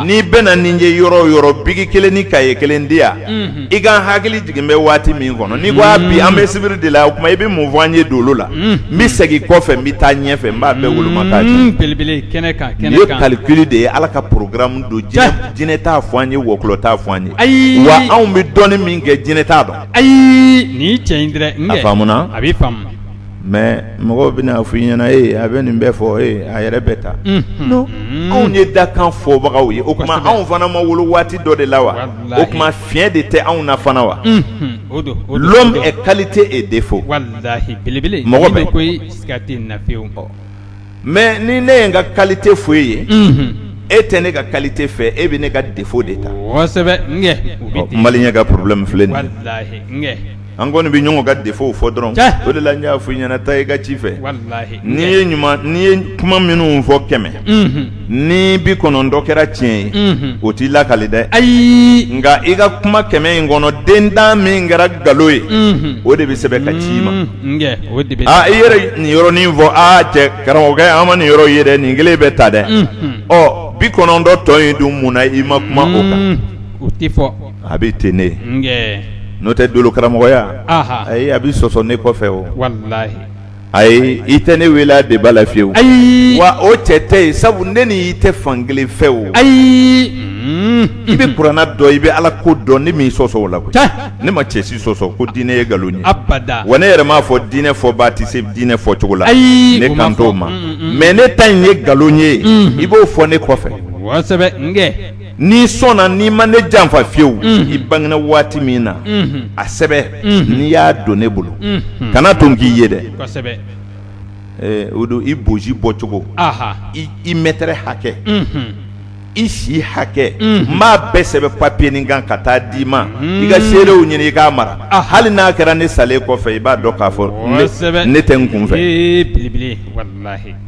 ni n bɛnna n'i ye yɔrɔ o yɔrɔ biki kelen ni kaye kelen di yan i k'an hakili jigin bɛ waati min kɔnɔ n'i ko bi an bɛ sibiri de la o tuma i bɛ mun fɔ an ye dolo la n bɛ segin kɔfɛ n bɛ taa ɲɛfɛ n b'a bɛɛ woloma belebele kɛnɛ kan nin ye calcul de ye ala ka programme don jinɛ t'a fɔ an ye wɔkulɔ t'a fɔ an ye ayi wa anw bɛ dɔnni min kɛ jinɛ t'a dɔn ayi ni cɛ in a bɛ mais mɔgɔw bɛna fɔ i ɲɛna ee a bɛ nin bɛɛ fɔ ee a yɛrɛ bɛ tan, unhun, non anw ye dakan fɔbagaw ye o tuma anw fana ma wolo waati dɔ de la wa, walahi, o tuma fiɲɛ de tɛ anw na fana wa, unhun, o don, o don, l'homme est qualité et défaut walahi belebele, mɔgɔ bɛ, n'i ma ko ye siga tɛ nin na fiyew mais ni ne ye n ka qualité fɔ e ye e tɛ ne ka qualité fɛ e bɛ ne ka défaut de ta maliyɛn ka problème filɛ nin ye an kɔni bɛ ɲɔgɔn ka défaut fɔ dɔrɔn o de la n y'a fɔ i ɲɛna taa i ka ci fɛ n'i ye ɲuman n'i ye kuma minnu fɔ kɛmɛ ni bi kɔnɔntɔn kɛra tiɲɛ ye o t'i lakale dɛ ayi nka i ka kuma kɛmɛ in kɔnɔ den tan min kɛra nkalon ye o de bɛ sɛbɛn ka ci i ma i yɛrɛ nin yɔrɔnin fɔ aa cɛ karamɔgɔkɛ an ma nin yɔrɔ ye dɛ nin kelen bɛ ta dɛ ɔ bi kɔnɔntɔn tɔ in dun mun na i ma kuma o kan o tɛ fɔ a bɛ ten ne n'o tɛ dolo karamɔgɔya ayi a bɛ sɔsɔ ne kɔfɛ o ayi i tɛ ne wele débat la fiyewu ayi wa o cɛ tɛ yen sabu ne ni i tɛ fan kelen fɛ o ayi i bɛ kuranna dɔn i bɛ ala ko dɔn ne m'i sɔsɔ o la koyi ne ma cɛ si sɔsɔ ko diinɛ ye nkalon ye, abada, wa ne yɛrɛ m'a fɔ diinɛ fɔbaa tɛ se diinɛ fɔcogo la, ayi, ne kan t'o ma, mais ne ta in ye nkalon ye, unhun, i b'o fɔ ne kɔfɛ, kosɛbɛ, n kɛ, n'i sɔnna n'i ma ne janfa fiyewu, unhun, i bangena waati min na, unhun, a sɛbɛn, unhun, n'i y'a don ne bolo, unhun, kana to n k'i ye dɛ, kosɛbɛ, ee o don i bonsi bɔcogo, anhan, i mɛtɛrɛ hakɛ, unhun. i si hakɛ n b'a bɛɛ sɛbɛn papiye nin kan ka taa d'i ma i ka seerew ɲini i k'a mara hali n'a kɛra ne salen kɔfɛ i b'a dɔn k'a fɔ ne tɛ n kun fɛ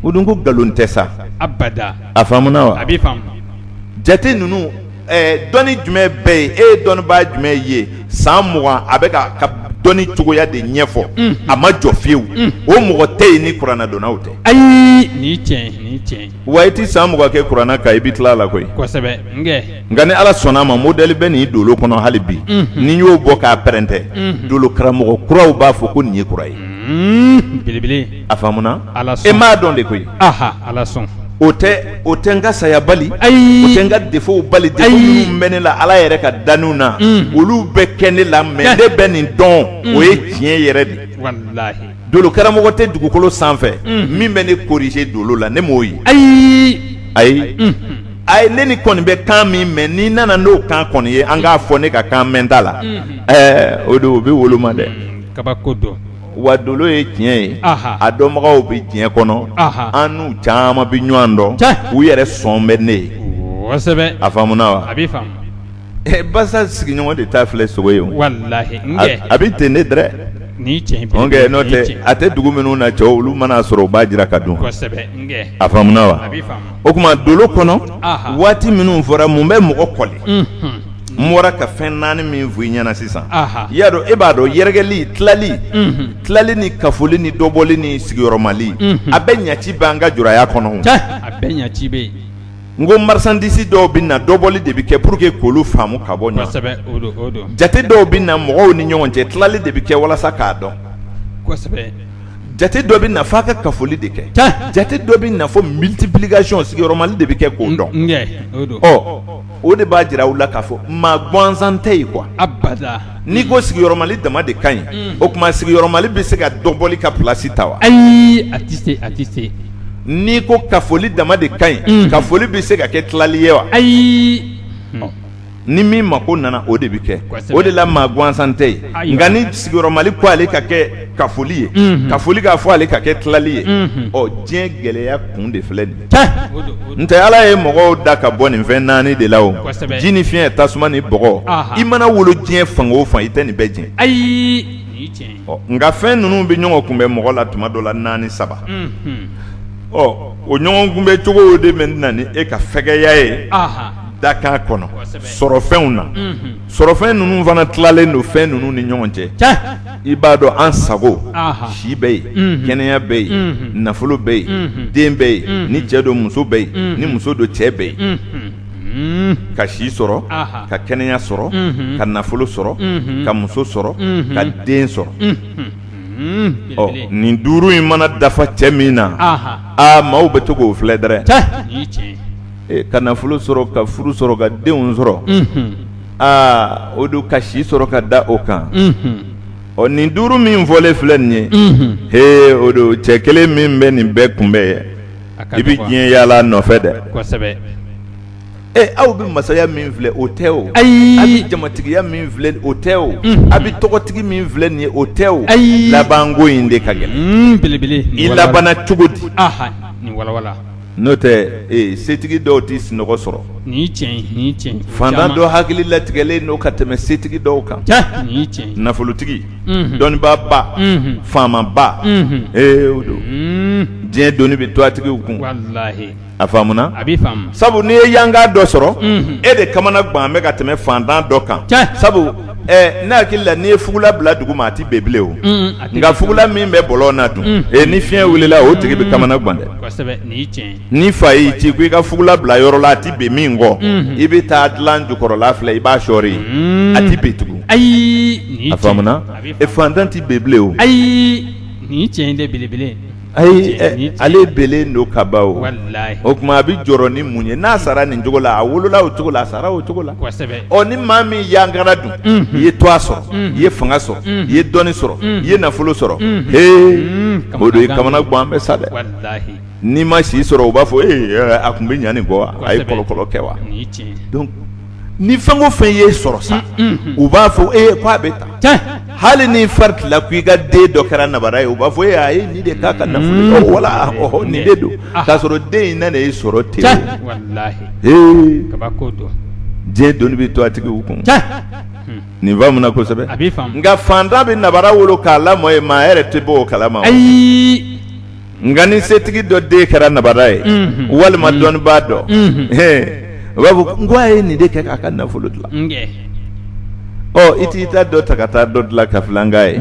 o dun ko nkalon tɛ sa a faamuna wa jate ninnu dɔnni jumɛn bɛ yen e ye dɔnnibaa jumɛn ye san mugan a bɛ k'a dɔnni cogoya de ɲɛfɔ a ma jɔ fiyewu o mɔgɔ tɛ yen ni kurana dɔnnaw tɛ ayi wa i tɛ san mugan kɛ kurana kan i bɛ tila a la koyi kosɛbɛ nka ni ala sɔnna a ma modɛli bɛ nin dolo kɔnɔ hali bi n'i y'o bɔ k'a pɛrɛntɛ dolo karamɔgɔ kuraw b'a fɔ ko nin ye kura ye bilibili a faamuna e m'a dɔn de koyi o tɛ o tɛ n ka saya bali o tɛ n ka defow bali defo minnu bɛ ne la ala yɛrɛ ka danniw na olu bɛ kɛ ne la mɛ ne bɛ nin dɔn o ye tiɲɛ yɛrɛ de Dolo karamɔgɔ tɛ dugukolo sanfɛ min bɛ ne korije dolo la ne m'o ye ayi ayi ayi ne nin kɔni bɛ kan min mɛn n'i nana n'o kan kɔni ye an k'a fɔ ne ka kan mɛnta la ɛɛ o don o bɛ woloma dɛ kabako don wa dolo ye tiɲɛ ye a dɔnbagaw bɛ diɲɛ kɔnɔ an n'u caman bɛ ɲɔgɔn dɔn u yɛrɛ sɔn bɛ ne ye a faamuna wa Basa sigiɲɔgɔn de t'a filɛ sogo ye a bɛ ten ne dɛrɛ n'o tɛ a tɛ dugu minnu na cɛw olu man'a sɔrɔ u b'a jiran k'a dun a faamuna wa o tuma dolo kɔnɔ waati minnu fɔra mun bɛ mɔgɔ kɔli n bɔra ka fɛn naani min fɔ i ɲɛna sisan i y'a dɔn e b'a dɔn yɛrɛkɛli tilali tilali ni kafoli ni dɔbɔli ni sigiyɔrɔmali a bɛɛ ɲɛci bɛ an ka juraya kɔnɔ n ko marisandisi dɔw bɛ na dɔbɔli de bɛ kɛ pour que k'olu faamu ka bɔ ɲɔgɔn jate dɔw bɛ na mɔgɔw ni ɲɔgɔn cɛ tilali de bɛ kɛ walasa k'a dɔn jate dɔ bɛ na fɔ a ka kafoli de kɛ jate dɔ bɛ na fɔ multiplication sigiyɔrɔmali de bɛ kɛ k'o dɔn o de b'a jira u la k'a fɔ maa gansan tɛ yen kuwa n'i ko sigiyɔrɔmali dama de ka ɲi o tuma sigiyɔrɔmali bɛ se ka dɔbɔli ka plasi ta wa ayi a tɛ a tɛ n'i ko kafoli dama de ka ɲi kafoli bɛ se ka kɛ tilali ye wa ayi ni min mako nana o de bɛ kɛ o de la maa gansan tɛ yen nka ni sigiyɔrɔmali ko ale ka kɛ kafoli ye kafoli k'a fɔ ale ka kɛ tilali ye ɔ diɲɛ gɛlɛya kun de filɛ nin n tɛ ala ye mɔgɔw da ka bɔ nin fɛn naani de la o ji ni fiɲɛ tasuma ni bɔgɔ i mana wolo diɲɛ fan o fan i tɛ nin bɛɛ diɲɛ ayi nka fɛn ninnu bɛ ɲɔgɔn kunbɛn mɔgɔ la tuma dɔ la naani saba ɔ o ɲɔgɔn kunbɛn cogo de bɛ na ni e ka fɛgɛya ye dakan kɔnɔ sɔrɔfɛnw na sɔrɔfɛn ninnu fana tilalen don fɛn ninnu ni ɲɔgɔn cɛ i b'a dɔn an sago si bɛ yen kɛnɛya bɛ yen nafolo bɛ yen den bɛ yen ni cɛ don muso bɛ yen ni muso don cɛ bɛ yen ka si sɔrɔ ka kɛnɛya sɔrɔ ka nafolo sɔrɔ ka muso sɔrɔ ka den sɔrɔ ɔ nin duuru in mana dafa cɛ min na aa maaw bɛ to k'o filɛ dɛrɛ ka nafolo sɔrɔ ka furu sɔrɔ ka denw sɔrɔ aa o don ka si sɔrɔ ka da o kan ɔ nin duuru min fɔlen filɛ nin ye he o don cɛ kelen min bɛ nin bɛɛ kunbɛn ye i bɛ diɲɛ yaala nɔfɛ dɛ e aw bɛ masaya min filɛ o tɛ o ayi a bɛ jamatigiya min filɛ o tɛ o a bɛ tɔgɔtigi min filɛ nin ye o tɛ o ayi labanko in de ka gɛlɛn belebele i labanna cogo di n'o tɛ setigi dɔw tɛ sunɔgɔ sɔrɔ fantan dɔ hakili latigɛlen don ka tɛmɛ setigi dɔw kan nafolotigi dɔnnibaa ba faama ba ee o don diɲɛ doni bɛ tɔgɔtigiw kun a faamuna a bɛ sabu n'i ye yanga dɔ sɔrɔ e de kamana gannen bɛ ka tɛmɛ fantan dɔ kan sabu ɛ ne hakili la n'i ye fugula bila dugu ma a tɛ bɛn bilen o, un un, nka fugula min bɛ bɔlɔn na dun, un, e ni fiɲɛ wulila o tigi bɛ kamana gan dɛ, kosɛbɛ, nin ye tiɲɛ ye, n'i fa y'i ci ko i ka fugula bila yɔrɔ la a tɛ bɛn min kɔ, unhun, i bɛ taa dilan jukɔrɔla filɛ i b'a sɔɔri yen, un, a tɛ bɛn tugun, ayi, nin ye tiɲɛ ye, a faamuna, e faantan tɛ bɛn bilen o, ayi, nin ye tiɲɛ ye dɛ belebele ayi ale bɛnnen don kaban o tuma a bɛ jɔrɔ ni mun ye n'a sara nin cogo la a wolola o cogo la a sara o cogo la ɔ ni maa min yangara dun i ye tɔgɔ sɔrɔ i ye fanga sɔrɔ i ye dɔnni sɔrɔ i ye nafolo sɔrɔ h o don i kamana gannen bɛ sa dɛ n'i ma si sɔrɔ u b'a fɔ e a tun bɛ ɲa nin kɔ wa a ye kɔlɔkɔlɔ kɛ wa ni fɛn o fɛn y'i sɔrɔ sa u b'a fɔ e ko a bɛ taa hali ni fari tilala ko i ka den dɔ kɛra nabara ye u b'a fɔ e a ye nin de k'a ka nafolo ye wala nin de don k'a sɔrɔ den in na de ye sɔrɔ ten diɲɛ doni bɛ tɔgɔtigiw kun nin faamuna kosɛbɛ nka fantan bɛ nabara wolo k'a lamɔ ye maa yɛrɛ tɛ bɔ o kala ma nka ni setigi dɔ den kɛra nabara ye walima dɔnnibaa dɔ u b'a fɔ n ko a ye nin de kɛ k'a ka nafolo dilan i t'i ta dɔ ta ka taa dɔ dilan k'a filɛ an k'a ye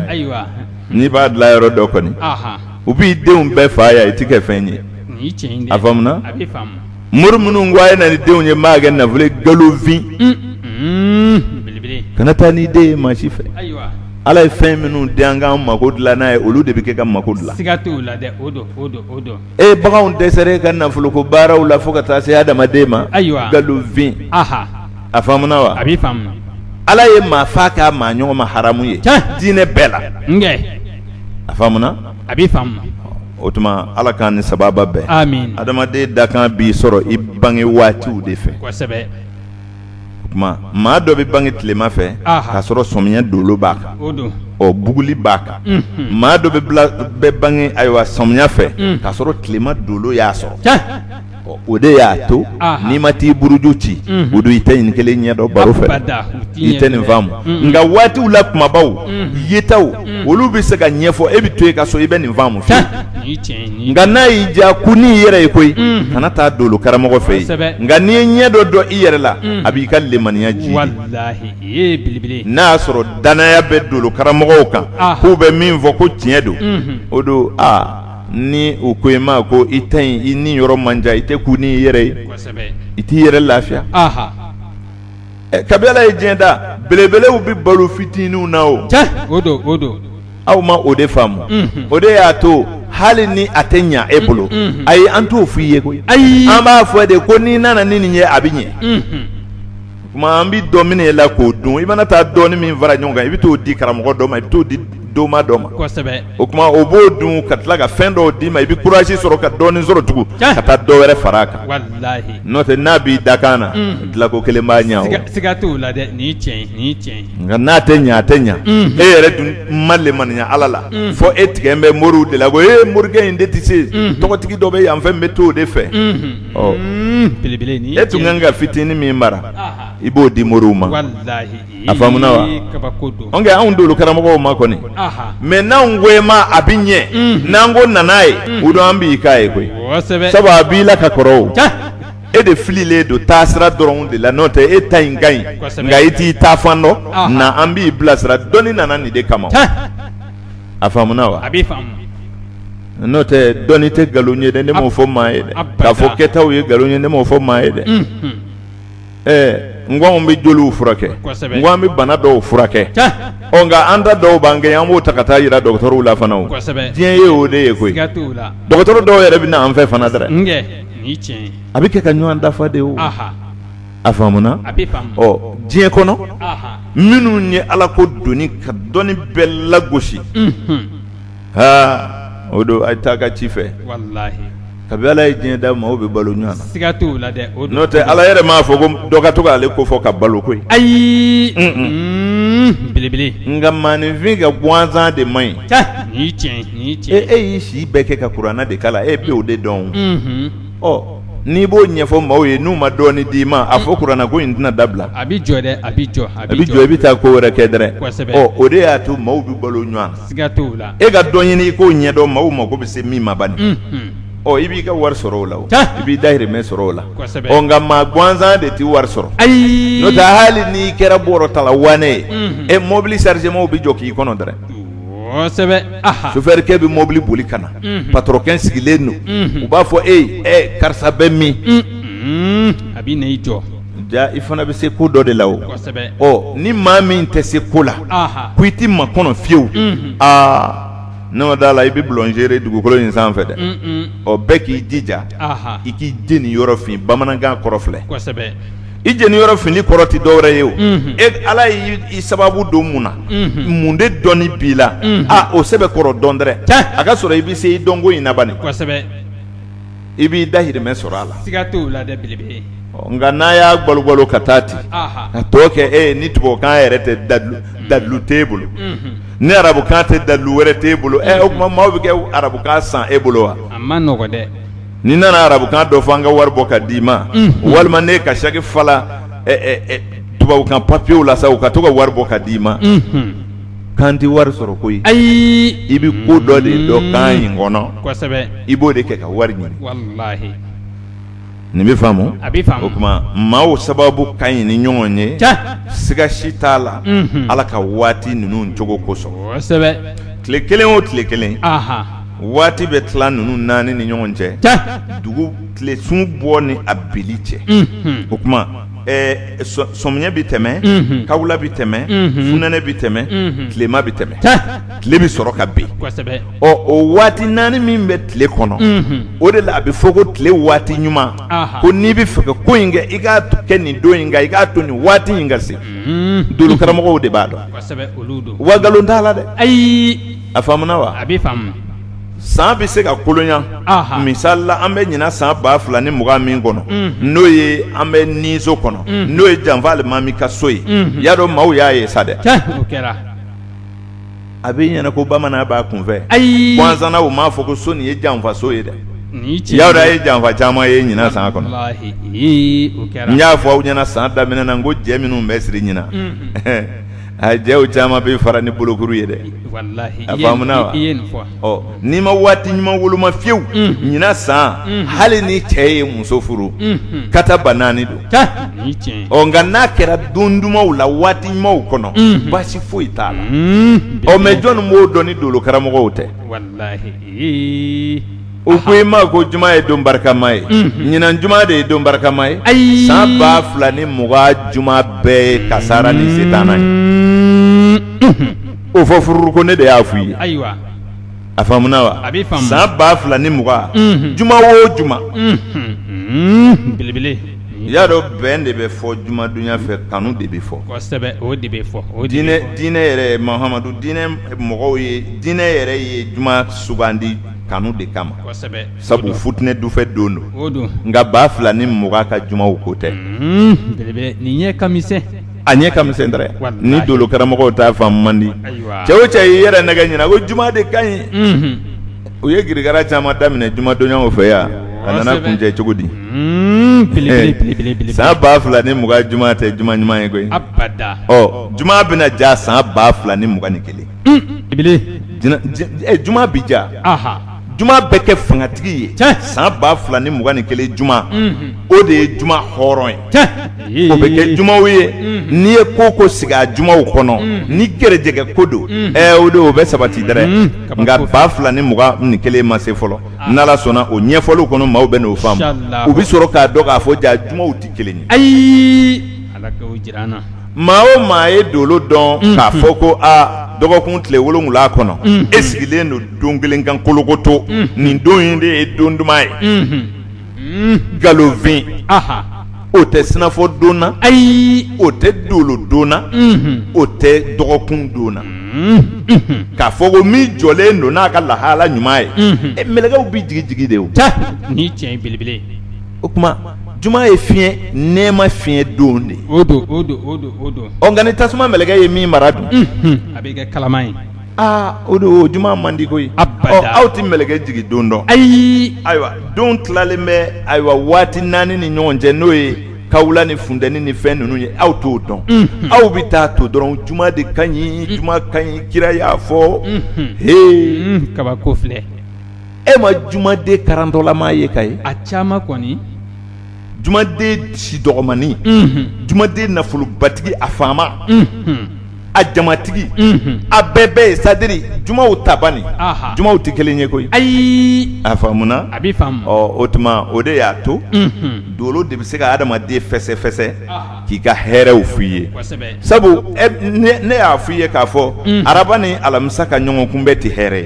n'i b'a dilan yɔrɔ dɔn kɔni u b'i denw bɛɛ faa yan i tɛ kɛ fɛn ye a faamuna mori minnu ko a ye na ni denw ye maa kɛ nafolo nkalonfin kana taa ni den ye maa si fɛ ala ye fɛn minnu di an k'an mako dilan n'a ye olu de bɛ kɛ ka mako dilan e baganw dɛsɛra ka nafolo ko baaraw la fo ka taa se adamaden ma nkalonfin a faamuna wa ala ye maa faa ka maa ɲɔgɔn ma haramu ye diinɛ bɛɛ la a faamuna o tuma ala k'an ni sababa bɛn adamaden dakan b'i sɔrɔ i bange waatiw de fɛ o tuma maa dɔ bɛ bange tilema fɛ k'a sɔrɔ sɔmiya dolo b'a kan ɔ buguli b'a kan maa dɔ bɛ bɛ bange ayiwa sɔmiya fɛ k'a sɔrɔ tilema dolo y'a sɔrɔ o de y'a to n'i ma t'i buruju ci o don i tɛ nin kelen ɲɛ dɔn baro fɛ i tɛ nin faamu nka waatiw la kumabaw yetaw olu bɛ se ka ɲɛfɔ e bɛ to i ka so i bɛ nin faamu fɛ nka n'a y'i diya ko n'i yɛrɛ ye koyi kana taa dolo karamɔgɔ fɛ yen nka n'i ye ɲɛ dɔ dɔn i yɛrɛ la a b'i ka lemaniya ji n'a y'a sɔrɔ dannaya bɛ dolo karamɔgɔw kan k'u bɛ min fɔ ko tiɲɛ don o don aa ni u ko i ma ko i ta in i ni yɔrɔ man jan i tɛ kun i yɛrɛ ye i t'i yɛrɛ lafiya kabi ala ye diɲɛ da belebelew bɛ balo fitininw na o aw ma o de faamu o de y'a to hali ni a tɛ ɲɛ e bolo ayi an t'o fɔ i ye koyi an b'a fɔ de ko n'i nana ni nin ye a bɛ ɲɛ Tuma an bɛ dɔ minɛ i la k'o dun i mana taa dɔɔnin min fara ɲɔgɔn kan i bɛ t'o di karamɔgɔ dɔ ma i bɛ t'o di doma dɔ ma o tuma o b'o dun ka tila ka fɛn dɔw d'i ma i bɛ kuraji sɔrɔ ka dɔɔnin sɔrɔ tugun ka taa dɔ wɛrɛ fara a kan n'o tɛ n'a b'i dakan na dilanko kelen b'a ɲɛ siga t'o la dɛ ni cɛ nka n'a tɛ ɲɛ a tɛ ɲɛ e yɛrɛ dun ma lemaniya ala la fɔ e tigɛ bɛ moriw de la ko e morikɛ in de tɛ se tɔgɔtigi dɔ bɛ yan fɛn bɛ to o de fɛ e tun kan ka fitinin min mara i b'o di mori ma a faamuna wa nka anw dolo karamɔgɔw ma kɔni mɛ n'an ko e ma a bɛ ɲɛ n'an ko na n'a ye o don an b'i k'a ye koyi sabu a b'i la ka kɔrɔ e de fililen don taa sira dɔrɔn de la n'o tɛ e ta in ka ɲi nka i t'i taa fan dɔn na an b'i bilasira dɔnni nana nin de kama a faamuna wa n'o tɛ dɔnni tɛ nkalon ye dɛ ne m'o fɔ maa ye dɛ k'a fɔ kɛtaw ye nkalon ye ne m'o fɔ maa ye dɛ ɛɛ n ko anw bɛ joliw furakɛ n ko an bɛ bana dɔw furakɛ ɔ nka an ta dɔw b'an kɛ an b'o ta ka taa yira dɔgɔtɔrɔw la fana diɲɛ ye o de ye koyi dɔgɔtɔrɔ dɔw yɛrɛ bɛ na an fɛ fana dɛ a bɛ kɛ ka ɲɔgɔn dafa de o a faamuna ɔ diɲɛ kɔnɔ minnu ye ala ko doni ka dɔnni bɛɛ lagosi aa o don a ye taa ka ci fɛ kabi ala ye diɲɛ da maaw bɛ balo ɲɔgɔn na siga t'o la dɛ n'o tɛ ala yɛrɛ m'a fɔ ko dɔ ka to k'ale ko fɔ ka balo koyi ayi belebele nka maaninfin ka gansan de man ɲi tiɲɛ e y'i si bɛɛ kɛ ka kuranɛ de kalan e bɛ o de dɔn ɔ n'i b'o ɲɛfɔ maaw ye n'u ma dɔɔnin d'i ma a fɔ kuranɛ ko in tɛna dabila a bɛ jɔ dɛ a bɛ jɔ a bɛ jɔ i bɛ taa ko wɛrɛ kɛ dɛrɛ kosɛbɛ ɔ o de y'a to maaw bɛ balo ɲɔgɔn na siga t'o la e ka dɔ ɲini i k'o ɲɛdɔn maaw mago bɛ se min ma bani ɔ i b'i ka wari sɔrɔ o la o tiɲɛ i b'i dahirimɛ sɔrɔ o la kosɛbɛ ɔ nka maa gansan de tɛ wari sɔrɔ ayi n'o tɛ hali n'i kɛra bɔrɔtala wane ye e mɔbili sarizemaw bɛ jɔ k'i kɔnɔ dɛrɛ sofɛrikɛ bɛ mɔbili boli ka na patɔrɔnkɛ sigilen don u b'a fɔ e ɛ karisa bɛ min a bɛ na i jɔ ja i fana bɛ se ko dɔ de la o ni maa min tɛ se ko la ko i tɛ makɔnɔ fiyewu aa n'e ma d'a la i bɛ bulonzere dugukolo in sanfɛ dɛ ɔ bɛɛ k'i jija i k'i jeni yɔrɔ fin bamanankan kɔrɔ filɛ i jeni yɔrɔ finni kɔrɔ tɛ dɔ wɛrɛ ye o e ala y'i sababu don mun na mun de dɔnni b'i la aa o sɛbɛ kɔrɔ dɔn dɛrɛ a ka sɔrɔ i bɛ se i dɔnko in na bani i b'i dahirimɛ sɔrɔ a la nka n'a y'a gbalo gbalo ka taa ten ka tɔ kɛ e ni tubabukan yɛrɛ tɛ dalilu t'e bolo ni arabukan tɛ dalilu wɛrɛ t'e bolo o tuma maaw bɛ kɛ arabukan san e bolo wa n'i nana arabukan dɔ fɔ an ka wari bɔ ka d'i ma walima n'e ka saki fala tubabukan papiyew la sa u ka to ka wari bɔ ka d'i ma kan tɛ wari sɔrɔ koyi ayi i bɛ ko dɔ de dɔn kan in kɔnɔ i b'o de kɛ ka wari ɲini nin bɛ faamu o tuma maaw sababu ka ɲi ni ɲɔgɔn ye siga si t'a la ala ka waati ninnu cogo kosɔn tile kelen o tile kelen waati bɛ tila ninnu naani ni ɲɔgɔn cɛ dugu tile sun bɔ ni a binni cɛ o tuma sɔmiɲɛ bɛ tɛmɛ kawula bɛ tɛmɛ funɛnɛ bɛ tɛmɛ tilema bɛ tɛmɛ tile bɛ sɔrɔ ka bin ɔ o waati naani min bɛ tile kɔnɔ o de la a bɛ fɔ ko tile waati ɲuman ko n'i bɛ fɛ ka ko in kɛ i k'a kɛ nin don in kan i k'a to nin waati in ka se dolo karamɔgɔw de b'a dɔn wa nkalon t'a la dɛ ayi a faamuna wa a bɛ faamu san bɛ se ka kolonya misali la an bɛ ɲinan san ba fila ni mugan min kɔnɔ n'o ye an bɛ nin so kɔnɔ n'o ye janfa alimami ka so ye y'a dɔn maaw y'a ye sa dɛ a bɛ ɲɛna ko bamanan b'a kunfɛ ayi gansan na u m'a fɔ ko so nin ye janfaso ye dɛ y'a dɔn a ye janfa caman ye ɲinan san kɔnɔ n y'a fɔ aw ɲɛna san daminɛ na n ko jɛ minnu bɛ siri ɲinan A jɛw caman bɛ fara ni bolokuru ye dɛ a faamuna wa n'i ma waati ɲuman woloma fiyewu ɲinan san hali ni cɛ ye muso furu ka taa ba naani don ɔ nka n'a kɛra don dumanw la waati ɲumanw kɔnɔ baasi foyi t'a la ɔ mɛ jɔnni b'o dɔn ni dolo karamɔgɔw tɛ u ko i ma ko juma ye don barikama ye ɲinan juma de ye don barikama ye ayi san ba fila ni mugan juma bɛɛ ye kasara ni setana ye o fɔ fururu ko ne de y'a f'u ye ayiwa a faamuna wa A bɛ faamu. san ba fila ni mugan Mhm. juma o juma belebele i y'a dɔn bɛn de bɛ fɔ jumadonya fɛ kanu de bɛ fɔ kosɛbɛ o de bɛ fɔ o de bɛ diinɛ fɔ. diinɛ yɛrɛ mahamadu diinɛ mɔgɔw ye diinɛ yɛrɛ ye juma sugandi kanu de kama sabu futinɛ dufɛ don don nka ba fila ni mugan ka jumaw ko tɛ nin ɲɛ ka misɛn a ɲɛ ka misɛn dɛrɛ ni dolo karamɔgɔw t'a faamu man di cɛ o cɛ y'i yɛrɛ nɛgɛn ɲinan ko juma de ka ɲi u ye girigara caman daminɛ jumadonyaw fɛ yan a nana kuncɛ cogo di san ba fila ni mugan juma tɛ juma ɲuman ye koyi juma bɛna ja san ba fila ni mugan ni kelen juma bɛ ja juma bɛ kɛ fangatigi ye san ba fila ni mugan ni kelen juma o de ye juma hɔrɔn ye o bɛ kɛ jumaw ye n'i ye ko o ko sigi a jumaw kɔnɔ ni gɛrɛjɛgɛ ko don o de o bɛ sabati dɛrɛ nka ba fila ni mugan ni kelen ma se fɔlɔ n'Ala sɔnna o ɲɛfɔliw kɔnɔ maaw bɛ n'o faamu u bɛ sɔrɔ k'a dɔn k'a fɔ ja jumaw tɛ kelen ye ayi maa o maa ye dolo dɔn k'a fɔ ko aa dɔgɔkun tile wolonwula kɔnɔ e sigilen don don kelen kan kolokoto nin don in de ye don duman ye nkalonfin o tɛ sinafɔ dɔnna ayi o tɛ dolo dɔnna o tɛ dɔgɔkun dɔnna k'a fɔ ko min jɔlen don n'a ka lahala ɲuman ye mɛlɛkɛw bɛ jigin jigin de o ni tiɲɛ belebele o tuma juma ye fiɲɛ nɛɛma fiɲɛ don de nka ni tasuma mɛlɛkɛ ye min mara dun a bɛ kɛ kalaman ye aa o don juma man di koyi aw tɛ mɛlɛkɛ jigin don dɔn ayi ayiwa don tilalen bɛ ayiwa waati naani ni ɲɔgɔn cɛ n'o ye kawula ni funteni ni fɛn ninnu ye aw t'o dɔn aw bɛ taa to dɔrɔn juma de ka ɲi juma ka ɲi kira y'a fɔ he kabako filɛ e ma jumaden karantɔlama ye ka ye a caman kɔni jumaden si dɔgɔmannin jumaden nafolobatigi a faama a jamatigi a bɛɛ bɛɛ ye sadiri jumaw tabani jumaw tɛ kelen ye koyi ayi a faamuna a bɛ faamu o tuma o de y'a to dolo de bɛ se ka adamaden fɛsɛfɛsɛ k'i ka hɛrɛw f' i ye sabu ne y'a f' i ye k'a fɔ araba ni alamisa ka ɲɔgɔnkunbɛn tɛ hɛrɛ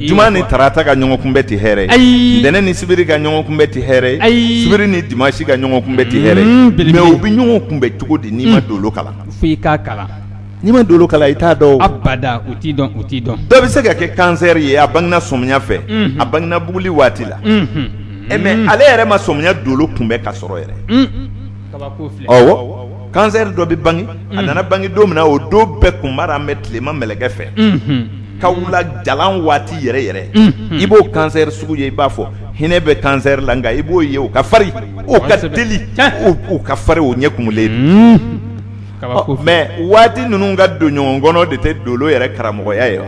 ye juma ni tarata ka ɲɔgɔnkunbɛn tɛ hɛrɛ ye ntɛnɛn ni sibiri ka ɲɔgɔnkunbɛn tɛ hɛrɛ ye sibiri ni dimasi ka ɲɔgɔnkunbɛn tɛ hɛrɛ ye mɛ u bɛ ɲɔgɔn kunbɛn cogo di n'i ma dolo kalan f' i k'a kalan n'i ma dolo kalan i t'a dɔn abada u t'a dɔn u t'a dɔn dɔ bɛ se ka kɛ kansɛri ye a bangena sɔmiya fɛ a bangena buguli waati la e mɛ ale yɛrɛ ma sɔmiya dolo kunbɛn ka sɔrɔ yɛrɛ kansɛri dɔ bɛ bange a nana bange don min na o don bɛɛ kunmara bɛ tilema mɛlɛkɛ fɛ kawula jalan waati yɛrɛ yɛrɛ i b'o kansɛri sugu ye i b'a fɔ hinɛ bɛ kansɛri la nka i b'o ye o ka farin o ka teli o ka farin o ɲɛ kumulen mɛ waati ninnu ka don ɲɔgɔn kɔnɔ de tɛ dolo yɛrɛ karamɔgɔya ye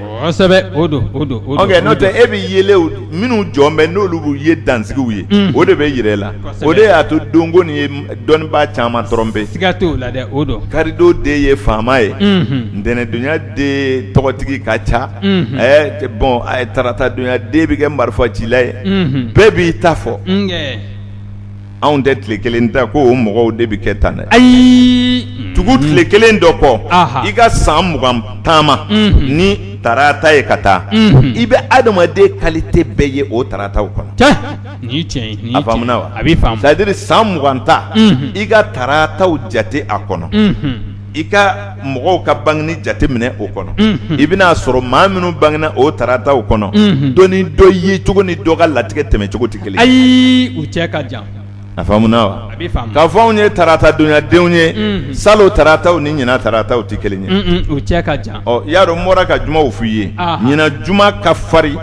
n'o tɛ e bɛ yeelenw minnu jɔn bɛ n'olu ye dansigiw ye o de bɛ jira e la o de y'a to donko nin ye dɔnnibaa caman tɔrɔnpe siga t'o la dɛ o don karido den ye faama ye ntɛnɛndonya den tɔgɔtigi ka ca bɔn taratadonya den bɛ kɛ marifacila ye bɛɛ b'i ta fɔ anw tɛ tile kelen ta ko o mɔgɔw de bɛ kɛ tan dɛ ayi tugu tile kelen dɔ kɔ i ka san mugan taama ni tarata ye ka taa i bɛ adamaden kalite bɛɛ ye o tarataw kɔnɔ a faamuna wa a bɛ faamu sadiri san mugan ta i ka tarataw jate a kɔnɔ i ka mɔgɔw ka bangeni jate minɛ o kɔnɔ i bɛna a sɔrɔ maa minnu bangena o tarataw kɔnɔ dɔ ni dɔ ye cogo ni dɔ ka latigɛ tɛmɛ cogo tɛ kelen ayi u cɛ ka jan a faamuna wa k'a fɔ anw ye tarata donyadenw ye salon tarataw ni ɲinan tarataw tɛ kelen ye u cɛ ka jan i y'a dɔn n bɔra ka jumaw f' i ye ɲinan juma ka farin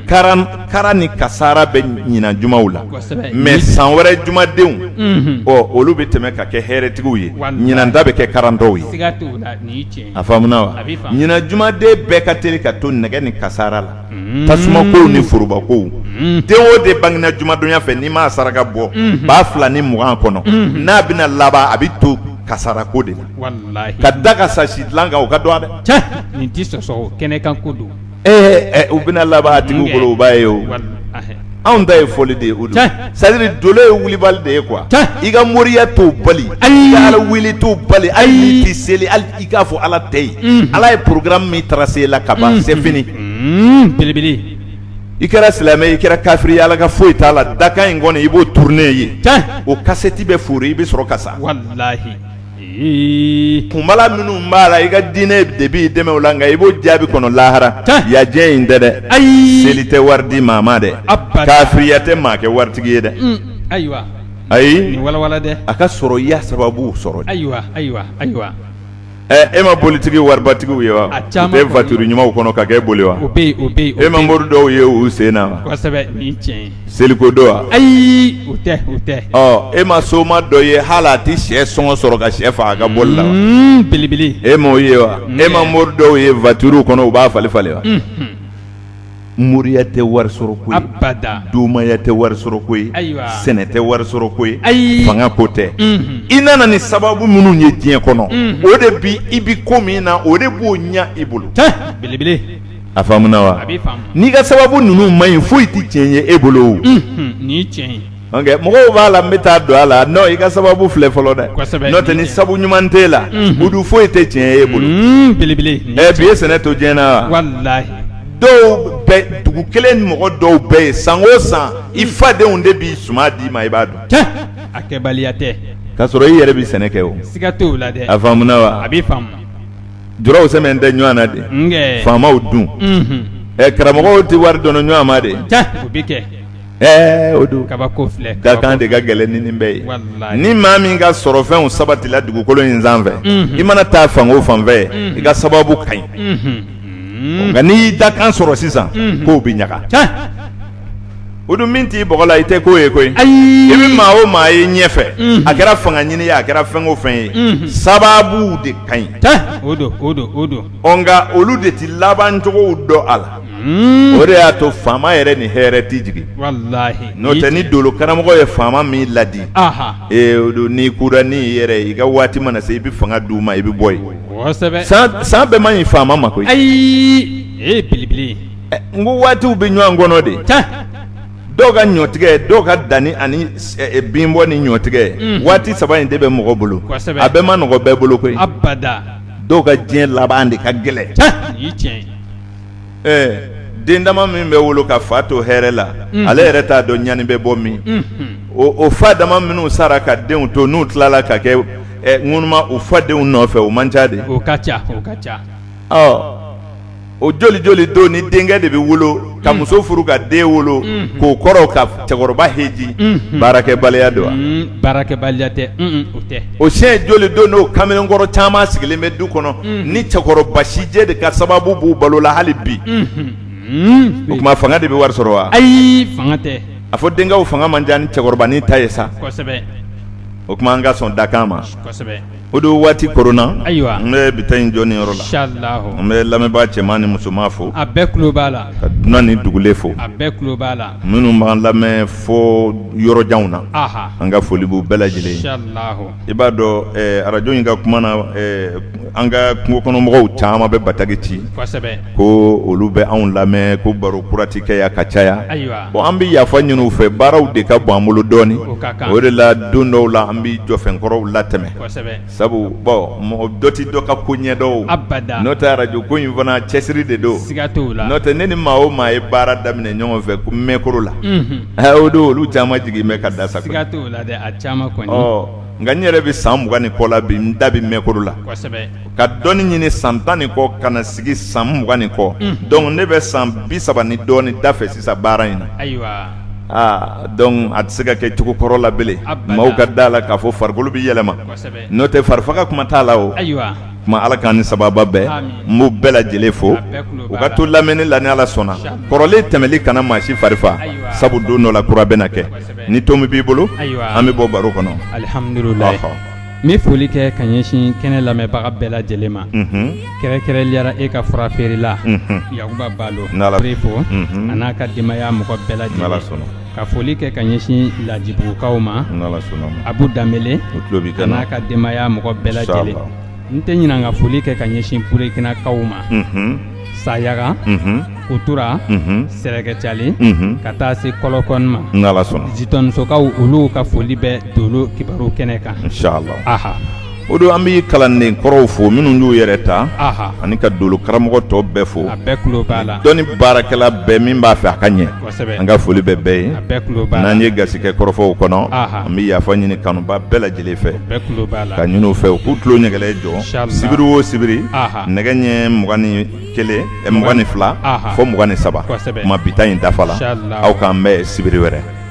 ka kara ni kasara bɛ ɲinan jumaw la mɛ san wɛrɛ jumadenw olu bɛ tɛmɛ ka kɛ hɛrɛtigiw ye ɲinan ta bɛ kɛ karatɔw ye a faamuna wa ɲinan jumaden bɛɛ ka teli ka to nɛgɛ ni kasara la tasumakow ni forobakow den o den bangena jumadonya fɛ n'i m'a saraka bɔ ba fila ni mugan kɔnɔ n'a bɛna laban a bɛ to kasara ko de la ka da ka sa sidilan kan o ka dɔgɔ dɛ Ee u bɛna laban a tigi bolo u b'a ye o anw ta ye fɔli de ye o don sadiri dolo ye wulibali de ye kuwa i ka moriya t'o bali ayi ala wele t'o bali ali i tɛ seli ali i k'a fɔ ala tɛ yen ala ye porogaramu min tarase la ka ban sɛ fini belebele i kɛra silamɛ i kɛra kafiri ala ka foyi t'a la dakan in kɔni i b'o turune ye o kasɛti bɛ foori i bɛ sɔrɔ ka sa kunbala minnu b'a la i ka diinɛ de b'i dɛmɛ o la nka i b'o jaabi kɔnɔ lahara yajɛ in tɛ dɛ ayi seli tɛ wari di maa ma dɛ kafiriya tɛ maa kɛ waritigi ye dɛ ayiwa ayi dɛ a ka sɔrɔ i y'a sababu sɔrɔ ayiwa ayiwa ayiwa e ma bolitigi waribatigiw ye wa u tɛ voiture ɲumanw kɔnɔ ka kɛ boli wa e ma mori dɔw ye u sen na seliko don wa ayi o tɛ o tɛ ɔ e ma soma dɔ ye hali a tɛ sɛ sɔngɔ sɔrɔ ka sɛ faga a ka boli la wa Mm, belebele e m'o ye wa e ma mori dɔw ye voitures kɔnɔ u b'a falen falen wa moriya tɛ wari sɔrɔ ko ye abada domaya tɛ wari sɔrɔ ko ye Ayiwa. sɛnɛ tɛ wari sɔrɔ ko ye Ayi. fanga ko tɛ Mhm. i nana ni sababu minnu ye diɲɛ kɔnɔ o de bi i bi ko min na o de b'o ɲa i bolo belebele a faamuna wa n'i ka sababu ninnu man ɲi foyi tɛ tiɲɛ ye e bolo mɔgɔw b'a la n bɛ taa don a la non i ka sababu filɛ fɔlɔ dɛ n'o tɛ ni sabu ɲuman t'e la o dun foyi tɛ tiɲɛ ye e bolo belebele bi ye sɛnɛ to diɲɛ na wa dɔw bɛɛ dugu kelen mɔgɔ dɔw bɛɛ ye san o san i fadenw de b'i suma d'i ma i b'a dɔn a kɛbaliya tɛ k'a sɔrɔ i yɛrɛ bɛ sɛnɛ kɛ o siga t'o la dɛ a faamuna wa a b'i faamu jɔrɔw sɛmɛn tɛ ɲɔgɔn na de faamaw dun ɛ karamɔgɔw tɛ wari dɔn ɲɔgɔn ma de ɛɛ o don kabako filɛ dakan de ka gɛlɛn ni nin bɛɛ ye ni maa min ka sɔrɔfɛnw sabatila dugukolo in sanfɛ i mana taa fan o fan fɛ i ka sababu ka ɲi nka n'i y'i dakan sɔrɔ sisan k'o bɛ ɲaga o dun min t'i bɔgɔ la i tɛ k'o ye koyi ayi i bɛ maa o maa ye ɲɛfɛ a kɛra fanga ɲini ye a kɛra fɛn o fɛn ye sababu de ka ɲi nka olu de tɛ labancogow dɔn a la o de y'a to faama yɛrɛ ni hɛrɛ tɛ jigin n'o tɛ ni dolo karamɔgɔ ye faama min ladi n'i kura n'i yɛrɛ i ka waati mana se i bɛ fanga d'u ma i bɛ bɔ yen san bɛɛ man ɲi faama ma koyi ayi n ko waatiw bɛ ɲɔgɔn kɔnɔ de dɔw ka ɲɔtigɛ dɔw ka danni ani binbɔ ni ɲɔtigɛ waati saba in de bɛ mɔgɔ bolo a bɛɛ man nɔgɔ bɛɛ bolo koyi dɔw ka diɲɛ laban de ka gɛlɛn den dama min bɛ wolo ka fa to hɛrɛ la ale yɛrɛ t'a dɔn ɲani bɛ bɔ min o fa dama minnu sara ka denw to n'u tilala ka kɛ ŋunuma u fadenw nɔfɛ o man ca de ca o joli joli don ni denkɛ de bɛ wolo ka muso furu ka den wolo k'o kɔrɔ ka cɛkɔrɔba heji baarakɛbaliya don wa baarakɛbaliya tɛ o tɛ o siyɛn joli don n'o kamalenkɔrɔ caman sigilen bɛ du kɔnɔ ni cɛkɔrɔba sijɛ de ka sababu b'u balo la hali bi o tuma fanga de bɛ wari sɔrɔ wa ayi fanga tɛ a fɔ denkɛw fanga man ca ni cɛkɔrɔbanin ta ye sa o tuma an ka sɔn dakan ma o don waati koronna ayiwa n bɛ bi ta in jɔ nin yɔrɔ la n bɛ lamɛnbaa cɛman ni musoman fo a bɛɛ tulo b'a la ka dunan ni dugulen fo a bɛɛ tulo b'a la minnu b'an lamɛn fɔ yɔrɔjanw na an ka foli b'u bɛɛ lajɛlen ye i b'a dɔn arajo in ka kuma na an ka kungo kɔnɔmɔgɔw caman bɛ bataki ci ko olu bɛ anw lamɛn ko baro kura tɛ kɛ yan ka caya bon an bɛ yafa ɲini u fɛ baaraw de ka bon an bolo dɔɔnin o de la don dɔw la an bɛ jɔfɛn kɔrɔw latɛmɛ sabu bon mɔgɔ dɔ tɛ dɔ ka ko ɲɛdɔn n'o tɛ arajo ko in fana cɛsiri de don n'o tɛ ne ni maa o maa ye baara daminɛ ɲɔgɔn fɛ ko mɛkoro la o don olu caman jigin bɛ ka da sa nka n yɛrɛ bɛ san mugan ni kɔ la bi n da bɛ mɛkoro la ka dɔnni ɲini san tan ni kɔ ka na sigi san mugan ni kɔ dɔnku ne bɛ san bi saba ni dɔɔnin da fɛ sisan baara in na aa dɔnku a tɛ se ka kɛ cogo kɔrɔ la bilen maaw ka da la k'a fɔ farikolo bɛ yɛlɛma n'o tɛ fari faga kuma t'a la o kuma ala k'an ni sababa bɛn n b'u bɛɛ lajɛlen fo u ka to lamɛnni la ni ala sɔnna kɔrɔlen tɛmɛnli kana maa si farifa sabu don dɔ la kura bɛ na kɛ ni to min b'i bolo an bɛ bɔ baro kɔnɔ N bɛ foli kɛ ka ɲɛsin kɛnɛ lamɛnbaga bɛɛ lajɛlen ma kɛrɛnkɛrɛnliyara e ka fura feerela Yakuba Balo fo a n'a ka denbaya mɔgɔ bɛɛ lajɛlen ka foli kɛ ka ɲɛsin Lajibugukaw ma Abu Danbele a n'a ka denbaya mɔgɔ bɛɛ lajɛlen n tɛ ɲinɛ ka foli kɛ ka ɲɛsin Burekinakaw ma. sayaga kutura sɛrɛkɛcali ka taa se kɔlɔkɔ ma jitɔnisokaw olu ka foli bɛ dolo kibaru kɛnɛ kan o don an bɛ kalanden kɔrɔw fo minnu y'u yɛrɛ ta ani ka dolo karamɔgɔ tɔ bɛɛ fo a bɛɛ tulo b'a la dɔnni baarakɛla bɛɛ min b'a fɛ a ka ɲɛ an ka foli bɛ bɛɛ ye n'an ye gasi kɛ kɔrɔfɔw kɔnɔ an bɛ yafa ɲini kanubaa bɛɛ lajɛlen fɛ k'a ɲini u fɛ u k'u tulo ɲɛgɛlɛ jɔ sibiri o sibiri nɛgɛ ɲɛ mugan ni kelen mugan ni fila fɔ mugan ni saba kuma bita in dafala aw k'an bɛn sibiri wɛrɛ